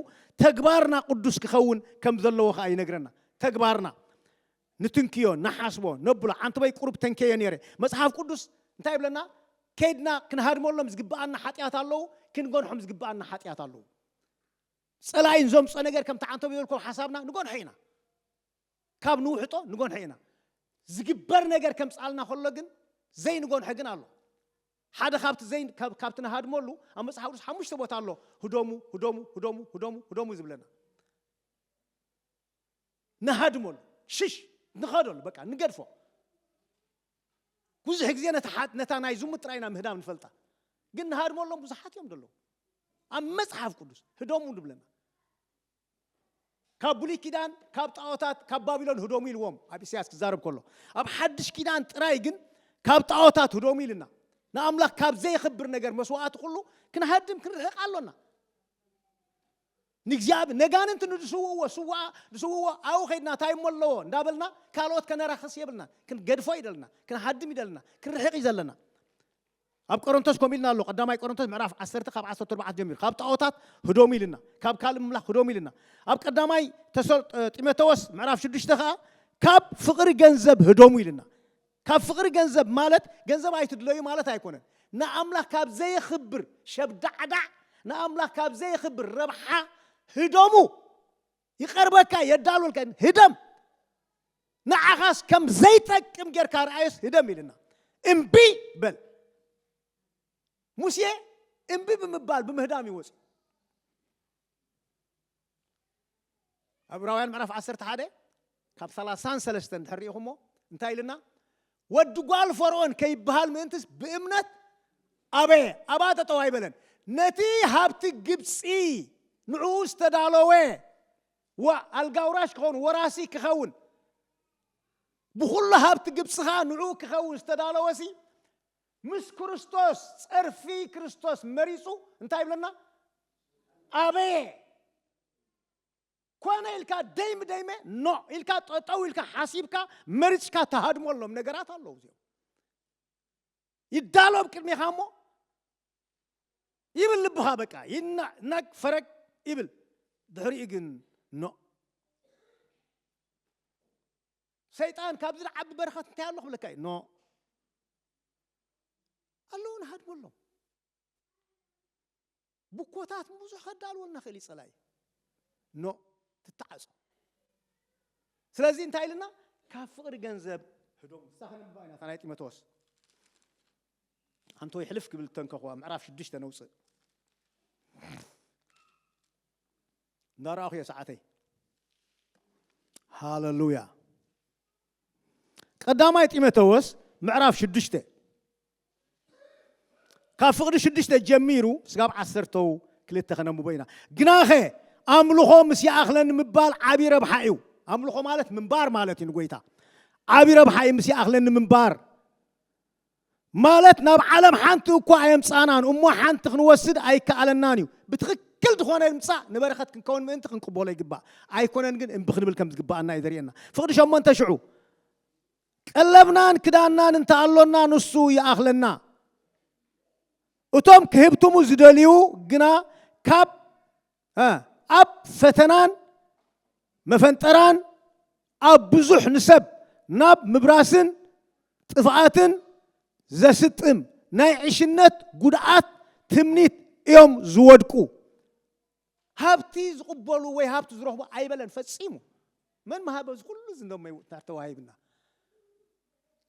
ተግባርና ቅዱስ ክኸውን ከም ዘለዎ ከዓ ይነግረና ተግባርና ንትንክዮ ንሓስቦ ነብሎ ሓንቲ በይ ቁሩብ ተንከዮ ነይረ መፅሓፍ ቅዱስ እንታይ ይብለና ከድና ክንሃድመሎም ዝግብኣና ሓጢኣት ኣለዉ ክንጎንሖም ዝግብኣና ሓጢኣት ኣለዉ ፀላኢን ዘምፆ ነገር ከምቲ ዓንተብ ዝበልኩም ሓሳብና ንጎንሖ ኢና ካብ ንውሕጦ ንጎንሐ ኢና። ዝግበር ነገር ከምጽኣልና ከሎ ግን ዘይንጎንሐ ግን ኣሎ። ሓደ ካብቲ ዘይ ካብቲ ንሃድመሉ ኣብ መጽሓፍ ቅዱስ ሓሙሽተ ቦታ ኣሎ ህደሙ ህደሙ ህደሙ ህደሙ ህደሙ ዝብለና ንሃድመሉ ሽሽ ንኸደሉ በቃ ንገድፎ ብዙሕ ግዜ ነታ ናይ ዝሙት ጥራይ ኢና ምህዳም ንፈልጣ ግን ንሃድመሎም ብዙሓት እዮም ዘለዉ ኣብ መጽሓፍ ቅዱስ ህደሙ ንብለና ካብ ብሉይ ኪዳን ካብ ጣዖታት ካብ ባቢሎን ህደሙ ኢልዎም ኣብ ኢሳያስ ክዛረብ ከሎ ኣብ ሓድሽ ኪዳን ጥራይ ግን ካብ ጣዖታት ህደሙ ኢልና ንኣምላኽ ካብ ዘየኽብር ነገር መስዋእቲ ኩሉ ክንሃድም ክንርሕቕ ኣሎና ንእግዚኣብሔር ነጋንንቲ ንዝስውእዎ ስዋኣ ዝስውእዎ ኣብኡ ከድና እንታይ እሞ ኣለዎ እንዳበልና ካልኦት ከነራኽስ የብልና ክንገድፎ ይደልና ክንሃድም ይደልና ክንርሕቕ እዩ ዘለና ኣብ ቆሮንቶስ ከምኡ ኢልና ኣሎ ቀዳማይ ቆሮንቶስ ምዕራፍ ዓሰርተ ካብ ዓሰርተ ኣርባዕተ ጀሚሩ ካብ ጣዖታት ህዶሙ ኢልና ካብ ካልእ ምምላኽ ህዶሙ ኢልና ኣብ ቀዳማይ ጢሞቴዎስ ምዕራፍ ሽዱሽተ ከዓ ካብ ፍቕሪ ገንዘብ ህዶሙ ኢልና ካብ ፍቕሪ ገንዘብ ማለት ገንዘብ ኣይትድለዩ ማለት ኣይኮነን ንኣምላኽ ካብ ዘየኽብር ሸብዳዕዳዕ ንኣምላኽ ካብ ዘየኽብር ረብሓ ህዶሙ ይቐርበካ የዳሉልካ ኢሉ ህደም ንዓኻስ ከም ዘይጠቅም ጌርካ ረኣዮስ ህደም ኢልና እምቢ በል ሙሴ እምቢ ብምባል ብምህዳም እዩ ወፂኡ ዕብራውያን ምዕራፍ 11 ካብ ሰላሳን ሰለስተን ድሕር ርኢኹሞ እንታይ ኢልና ወዲ ጓል ፈርኦን ከይበሃል ምእንትስ ብእምነት ኣበየ ኣብኣ ጠጠው ኣይበለን ነቲ ሃብቲ ግብፂ ንዕኡ ዝተዳለወ ኣልጋውራሽ ክኸውን ወራሲ ክኸውን ብኩሉ ሃብቲ ግብፂ ከዓ ንዕኡ ክኸውን ዝተዳለወሲ ምስ ክርስቶስ ፀርፊ ክርስቶስ መሪፁ እንታይ ይብለና ኣበየ ኮነ ኢልካ ደይ ምደይመ ኖዕ ኢልካ ጠጠው ኢልካ ሓሲብካ መሪፅካ ተሃድመሎም ነገራት ኣለዉ እዚኦም ይዳሎ ኣብ ቅድሜኻ እሞ ይብል ልብኻ በቃ ይናቅ ፈረግ ይብል ድሕሪኡ ግን ኖ ሰይጣን ካብ ዝለዓቢ በረኸት እንታይ ኣሎ ክብለካ እዩ ኖ ኣለውን ሃድመሎም ብኮታት ንብዙሕ ከዳልወልና ክእል ይጸላኢ ኖ ትተዓጾ ስለዚ እንታይ ኢልና ካብ ፍቕሪ ገንዘብ ህዶም ንሳ ከነብባ ኢና እታ ናይ ጢሞቴዎስ ኣንቶ ይሕልፍ ክብል ተንከኹዋ ምዕራፍ ሽዱሽተ ነውፅእ እንዳረኣኹ እየ ሰዓተይ ሃለሉያ ቀዳማይ ጢሞቴዎስ ምዕራፍ ሽዱሽተ ካብ ፍቕዲ ሽዱሽተ ጀሚሩ ስጋብ ዓሰርተው ክልተ ክነንብቦ ኢና ግናኸ ኣምልኾ ምስ ይኣኽለ ንምባል ዓብ ረብሓ እዩ ኣምልኾ ማለት ምንባር ማለት እዩ ንጎይታ ዓብ ረብሓ እዩ ምስ ይኣኽለ ንምንባር ማለት ናብ ዓለም ሓንቲ እኳ ኣየምፃናን እሞ ሓንቲ ክንወስድ ኣይከኣለናን እዩ ብትኽክል ዝኾነ ምፃእ ንበረኸት ክንከውን ምእንቲ ክንቅበሎ ይግባእ ኣይኮነን ግን እምቢ ክንብል ከም ዝግባኣና እዩ ዘርእየና ፍቕዲ ሸሞንተ ሽዑ ቀለብናን ክዳንናን እንተ ኣሎና ንሱ ይኣኽለና። እቶም ክህብትሙ ዝደልዩ ግና ካብ ኣብ ፈተናን መፈንጠራን ኣብ ብዙሕ ንሰብ ናብ ምብራስን ጥፍኣትን ዘስጥም ናይ ዕሽነት ጉድኣት ትምኒት እዮም ዝወድቁ። ሃብቲ ዝቕበሉ ወይ ሃብቲ ዝረኽቡ ኣይበለን ፈጺሙ። መን ምሃበ እዚ ኩሉ እዚ እንዶ ምውታር ተዋሂብና።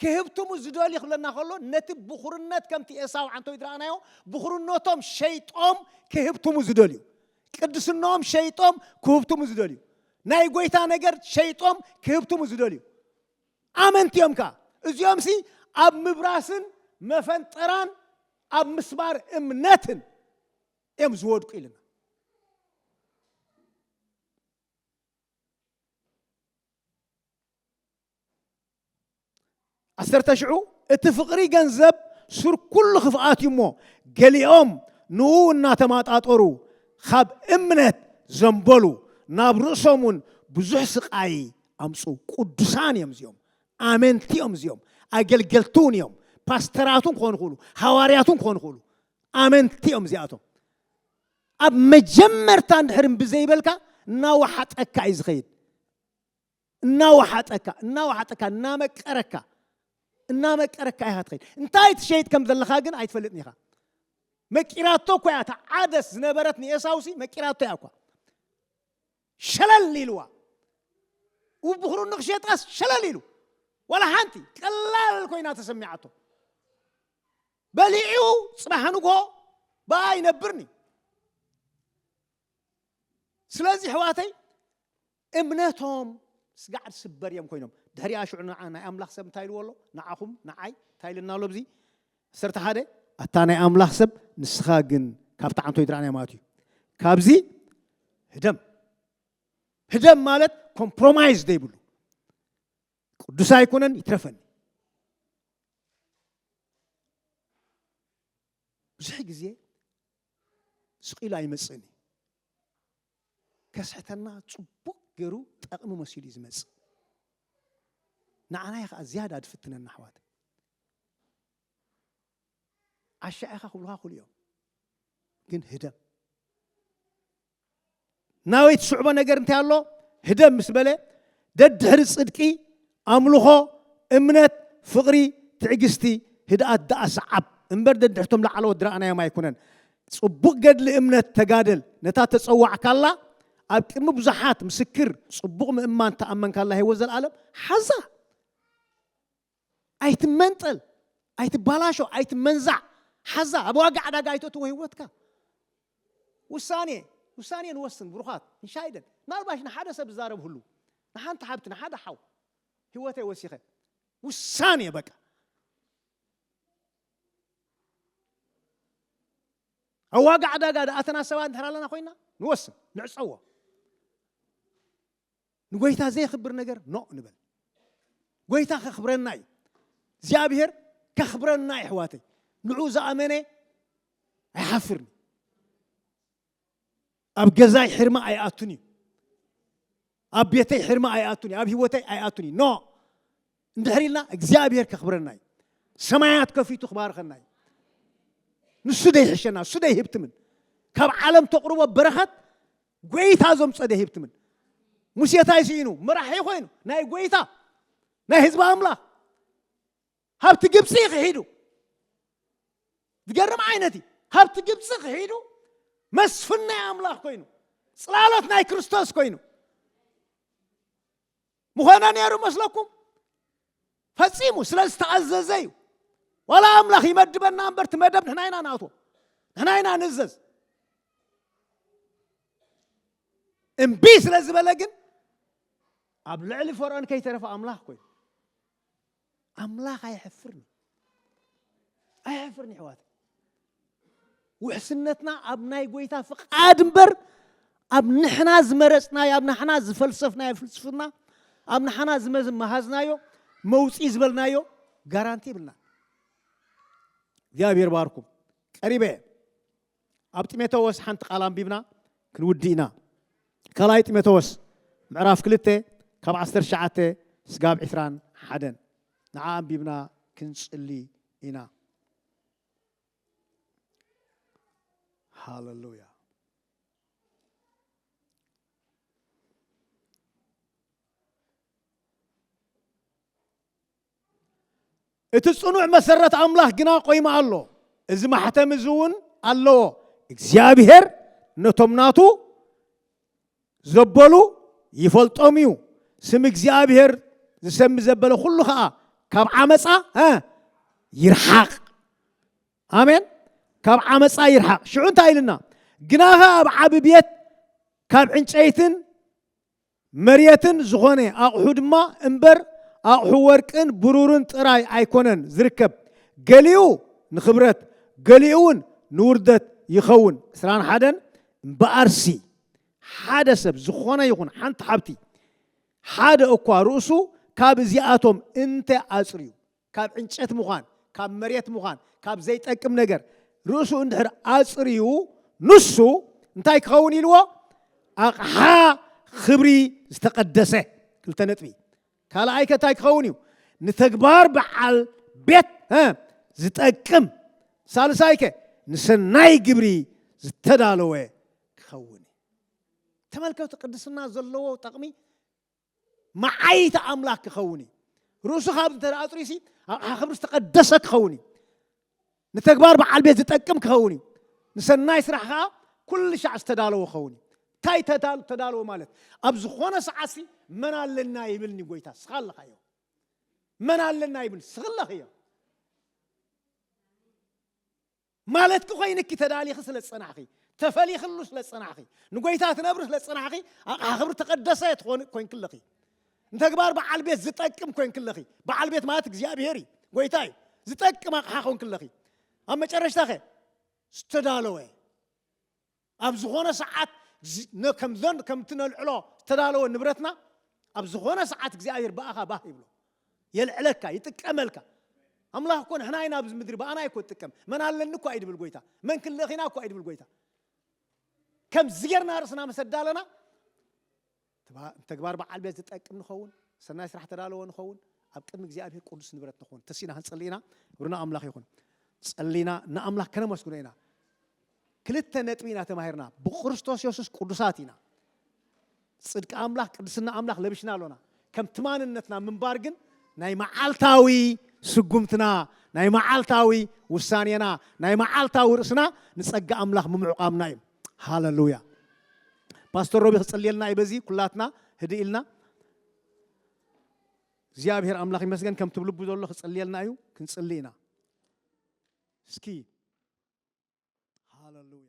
ክህብትሙ ዝደልዩ ክብለና ከሎ ነቲ ብኹርነት ከምቲ ኤሳው ዓንተው ይድረኣናዮ ብኹርነቶም ሸይጦም ክህብትሙ ዝደልዩ ቅድስነኦም ሸይጦም ክህብትሙ ዝደልዩ ናይ ጎይታ ነገር ሸይጦም ክህብትሙ ዝደልዩ ኣመንቲ እዮም ከኣ እዚኦም ሲ ኣብ ምብራስን መፈንጠራን ኣብ ምስባር እምነትን እዮም ዝወድቁ ኢልና ዓሰርተ ሽዑ እቲ ፍቕሪ ገንዘብ ሱር ኩሉ ክፍኣት እዩ እሞ ገሊኦም ንኡ እናተማጣጠሩ ካብ እምነት ዘንበሉ ናብ ርእሶም እውን ብዙሕ ስቃይ ኣምፁ ቅዱሳን እዮም እዚኦም ኣመንቲ እዮም እዚኦም ኣገልገልቲ እውን እዮም ፓስተራት እውን ክኾኑ ክእሉ ሃዋርያት እውን ክኾኑ ክእሉ ኣመንቲ እዮም እዚኣቶም ኣብ መጀመርታ እንድሕር እምቢ ዘይበልካ እናወሓጠካ እዩ ዝኸይድ እናወሓጠካ እናወሓጠካ እናመቀረካ እናመቀረካ ኢኻ ትኸይድ እንታይ ትሸይጥ ከም ዘለኻ ግን ኣይትፈልጥን ኢኻ መቂራቶ እኳ እያ እታ ዓደስ ዝነበረት ንኤሳውሲ መቂራቶ እያ እኳ ሸለል ኢልዋ ውብኽሩ ንኽሸጣስ ሸለል ኢሉ ዋላ ሓንቲ ቀላል ኮይና ተሰሚዓቶ በሊዑ ጽባሕ ንግሆ ብኣ ይነብርኒ ስለዚ ሕዋተይ እምነቶም ስጋዕ ዝስበር እዮም ኮይኖም ድሕሪኣ ሽዑ ንዓ ናይ ኣምላኽ ሰብ እንታይ ኢልዎ ኣሎ ንዓኹም ንዓይ እንታይ ኢልና ኣሎ ብዚ ዓሰርተ ሓደ ኣታ ናይ ኣምላኽ ሰብ ንስኻ ግን ካብቲ ዓንቶ ይድራዕናዮ ማለት እዩ ካብዚ ህደም ህደም ማለት ኮምፕሮማይዝ ዘይብሉ ቅዱስ ኣይኮነን ይትረፈኒ ብዙሕ ግዜ ስቂሉ ኣይመፅእን እዩ ከስሕተና ፅቡቅ ገይሩ ጠቕሚ መሲሉ እዩ ዝመፅእ ንዓናይ ከዓ ዝያዳ ዝፍትነና ኣሕዋት ዓሻ ኢኻ ክብሉኻ ክሉ እዮም ግን ህደም ናበይ ትስዕቦ ነገር እንታይ ኣሎ ህደም ምስ በለ ደድሕሪ ጽድቂ ኣምልኾ እምነት ፍቕሪ ትዕግስቲ ህድኣት ደኣ ሰዓብ እምበር ደድሕቶም ላዕለዎት ድረኣናዮም ኣይኩነን ጽቡቕ ገድሊ እምነት ተጋደል ነታ ተጸዋዕካላ ኣብ ቅድሚ ብዙሓት ምስክር ጽቡቕ ምእማን ተኣመንካላ ህይወት ዘለኣለም ሓዛ ኣይትመንጠል፣ ኣይትባላሾ፣ ኣይትመንዛዕ፣ ሓዛ ኣብ ዋጋ ዕዳጋ ኣይተእትዎ ህይወትካ። ውሳኔ ውሳኔ ንወስን ብሩኻት እንሻይደን ምናልባሽ ንሓደ ሰብ ዝዛረብ ህሉ ንሓንቲ ሓብቲ ንሓደ ሓው ህይወተይ ወሲኸ ውሳኔ በቃ ኣብ ዋጋ ዕዳጋ ድኣተና ሰባት እንተር ኣለና ኮይና ንወስን ንዕፀዎ ንጎይታ ዘየኽብር ነገር ኖእ ንበል። ጎይታ ከኽብረና እዩ። እግዚኣብሔር ከኽብረና እዩ ኣሕዋተይ። ንዑ ዝኣመነ ኣይሓፍርን እዩ። ኣብ ገዛይ ሕርማ ኣይኣቱን እዩ። ኣብ ቤተይ ሕርማ ኣይኣቱን እዩ። ኣብ ህይወተይ ኣይኣቱን እዩ። ኖ እንድሕር ኢልና እግዚኣብሔር ከኽብረና እዩ ሰማያት ከፊቱ ክባርኸና እዩ ንሱ ደይሕሸና እሱ ደይህብትምን ካብ ዓለም ተቕርቦ በረኸት ጎይታ ዘምፀ ደይህብትምን ሙሴ እንታይ ስኢኑ መራሒ ኮይኑ ናይ ጎይታ ናይ ህዝቢ ኣምላኽ ሃብቲ ግብፂ ክሒዱ ዝገርም ዓይነት እዩ ሃብቲ ግብፂ ክሒዱ መስፍን ናይ ኣምላኽ ኮይኑ ፅላሎት ናይ ክርስቶስ ኮይኑ ምኾነ ነይሩ መስለኩም? ፈጺሙ ስለ ዝተኣዘዘ እዩ። ዋላ ኣምላኽ ይመድበና እምበር እቲ መደብ ንሕና ኢና ንኣትዎ፣ ንሕና ኢና ንእዘዝ። እምቢ ስለ ዝበለ ግን ኣብ ልዕሊ ፈርዖን ከይተረፈ ኣምላኽ ኮይኑ ኣምላኽ ኣይሕፍርን እዩ ኣይሕፍርን ይሕዋት ውሕስነትና ኣብ ናይ ጎይታ ፍቃድ እምበር ኣብ ንሕና ዝመረፅናዮ ኣብ ንሕና ዝፈልሰፍናዮ ፍልስፍና ኣብ ንሓና ዝመሃዝናዮ መውፅኢ ዝበልናዮ ጋራንቲ ይብልና እግዚኣብሔር ባርኩም ቀሪበ ኣብ ጢሞቴዎስ ሓንቲ ቃል ኣንቢብና ክንውድእ ኢና። ካልኣይ ጢሞቴዎስ ምዕራፍ ክልተ ካብ ዓሰርተ ትሽዓተ ስጋብ ዕስራን ሓደን ንዓ ኣንቢብና ክንጽሊ ኢና። ሃለሉያ እቲ ጽኑዕ መሰረት ኣምላኽ ግና ቆይሙ ኣሎ፣ እዚ ማሕተም እዚ እውን ኣለዎ፣ እግዚኣብሄር ነቶም ናቱ ዘበሉ ይፈልጦም እዩ፣ ስም እግዚኣብሄር ዝሰሚ ዘበለ ኩሉ ኸኣ ካብ ዓመጻ ይርሓቕ። ኣሜን። ካብ ዓመጻ ይርሓቕ። ሽዑ እንታይ ኢልና ግናኸ ኣብ ዓቢ ቤት ካብ ዕንጨይትን መሬትን ዝኾነ ኣቕሑ ድማ እምበር ኣቕሑ ወርቅን ብሩርን ጥራይ ኣይኮነን ዝርከብ ገሊኡ ንኽብረት ገሊኡ ውን ንውርደት ይኸውን ዕስራን ሓደን እምበኣርሲ ሓደ ሰብ ዝኾነ ይኹን ሓንቲ ሓብቲ ሓደ እኳ ርእሱ ካብ እዚኣቶም እንተ ኣጽርዩ ካብ ዕንጨት ምዃን፣ ካብ መሬት ምዃን፣ ካብ ዘይጠቅም ነገር ርእሱ እንድሕር ኣጽርዩ ንሱ እንታይ ክኸውን ኢልዎ? ኣቕሓ ኽብሪ ዝተቐደሰ። ክልተ ነጥቢ። ካልኣይ ከ እንታይ ክኸውን እዩ? ንተግባር በዓል ቤት ዝጠቅም። ሳልሳይ ከ ንሰናይ ግብሪ ዝተዳለወ ክኸውን እዩ። ተመልከቱ ቅድስና ዘለዎ ጠቕሚ መዓይይቲ ኣምላክ ክኸውን እዩ። ርእሱ ካብ እንተ ኣጥሪዩሲ ኣቕሓ ክብሪ ዝተቐደሰ ክኸውን እዩ። ንተግባር በዓል ቤት ዝጠቅም ክኸውን እዩ። ንሰናይ ስራሕ ከዓ ኩሉ ሻዕ ዝተዳለወ ክኸውን እዩ። እንታይ ተዳለወ ማለት ኣብ ዝኾነ ሰዓትሲ መን ኣለና ይብልኒ ጎይታ ስኻ ኣለኻ እዮ መን ኣለና ይብል ስኽለኽ እዮ ማለትኪ ኮይንኪ ተዳሊኺ ስለ ዝጸናሕኺ፣ ተፈሊኽሉ ስለ ዝጸናሕኺ፣ ንጎይታ ትነብሪ ስለ ዝጸናሕኺ ኣቕሓ ክብሪ ተቀደሰ ትኾኒ ኮይንኪ ኣለኺ። ንተግባር በዓል ቤት ዝጠቅም ኮይንኪ ኣለኺ። በዓል ቤት ማለት እግዚኣብሄር እዩ፣ ጎይታ እዩ። ዝጠቅም ኣቕሓ ኮንኪ ኣለኺ። ኣብ መጨረሽታኸ ዝተዳለወ ኣብ ዝኾነ ሰዓት ከምዘን ከምቲ ነልዕሎ ዝተዳለወ ንብረትና ኣብ ዝኾነ ሰዓት እግዚኣብሔር ብኣኻ ባህ ይብሎ የልዕለካ ይጥቀመልካ ኣምላኽ እኮ ንሕና ኢና ኣብዚ ምድሪ ብኣና እኮ ትጥቀም መን ኣለኒ እኳ እዩ ድብል ጎይታ መን ክልእኺና እኳ እዩ ድብል ጎይታ ከምዚ ጌርና ርእስና መሰዳለና ንተግባር በዓል ቤት ዝጠቅም ንኸውን፣ ሰናይ ስራሕ ተዳለወ ንኸውን፣ ኣብ ቅድሚ እግዚኣብሔር ቅዱስ ንብረት ንኸውን ተሲእና ክንጽሊ ኢና። ክብሪ ንኣምላኽ ይኹን። ጸሊና ንኣምላኽ ከነመስግኖ ኢና። ክልተ ነጥቢ ኢና ተማሂርና። ብክርስቶስ የሱስ ቅዱሳት ኢና። ጽድቂ ኣምላኽ ቅድስና ኣምላኽ ለቢሽና ኣሎና። ከምቲ ማንነትና ምንባር ግን ናይ መዓልታዊ ስጉምትና ናይ መዓልታዊ ውሳኔና ናይ መዓልታዊ ርእስና ንጸጋ ኣምላኽ ምምዕቋምና እዩ። ሃለሉያ ፓስተር ሮቢ ክጽልየልና እዩ በዚ ኩላትና ህድእ ኢልና እግዚኣብሔር ኣምላኽ ይመስገን ከምቲ ብልቡ ዘሎ ክጽልየልና እዩ ክንጽሊ ኢና እስኪ ሃለሉያ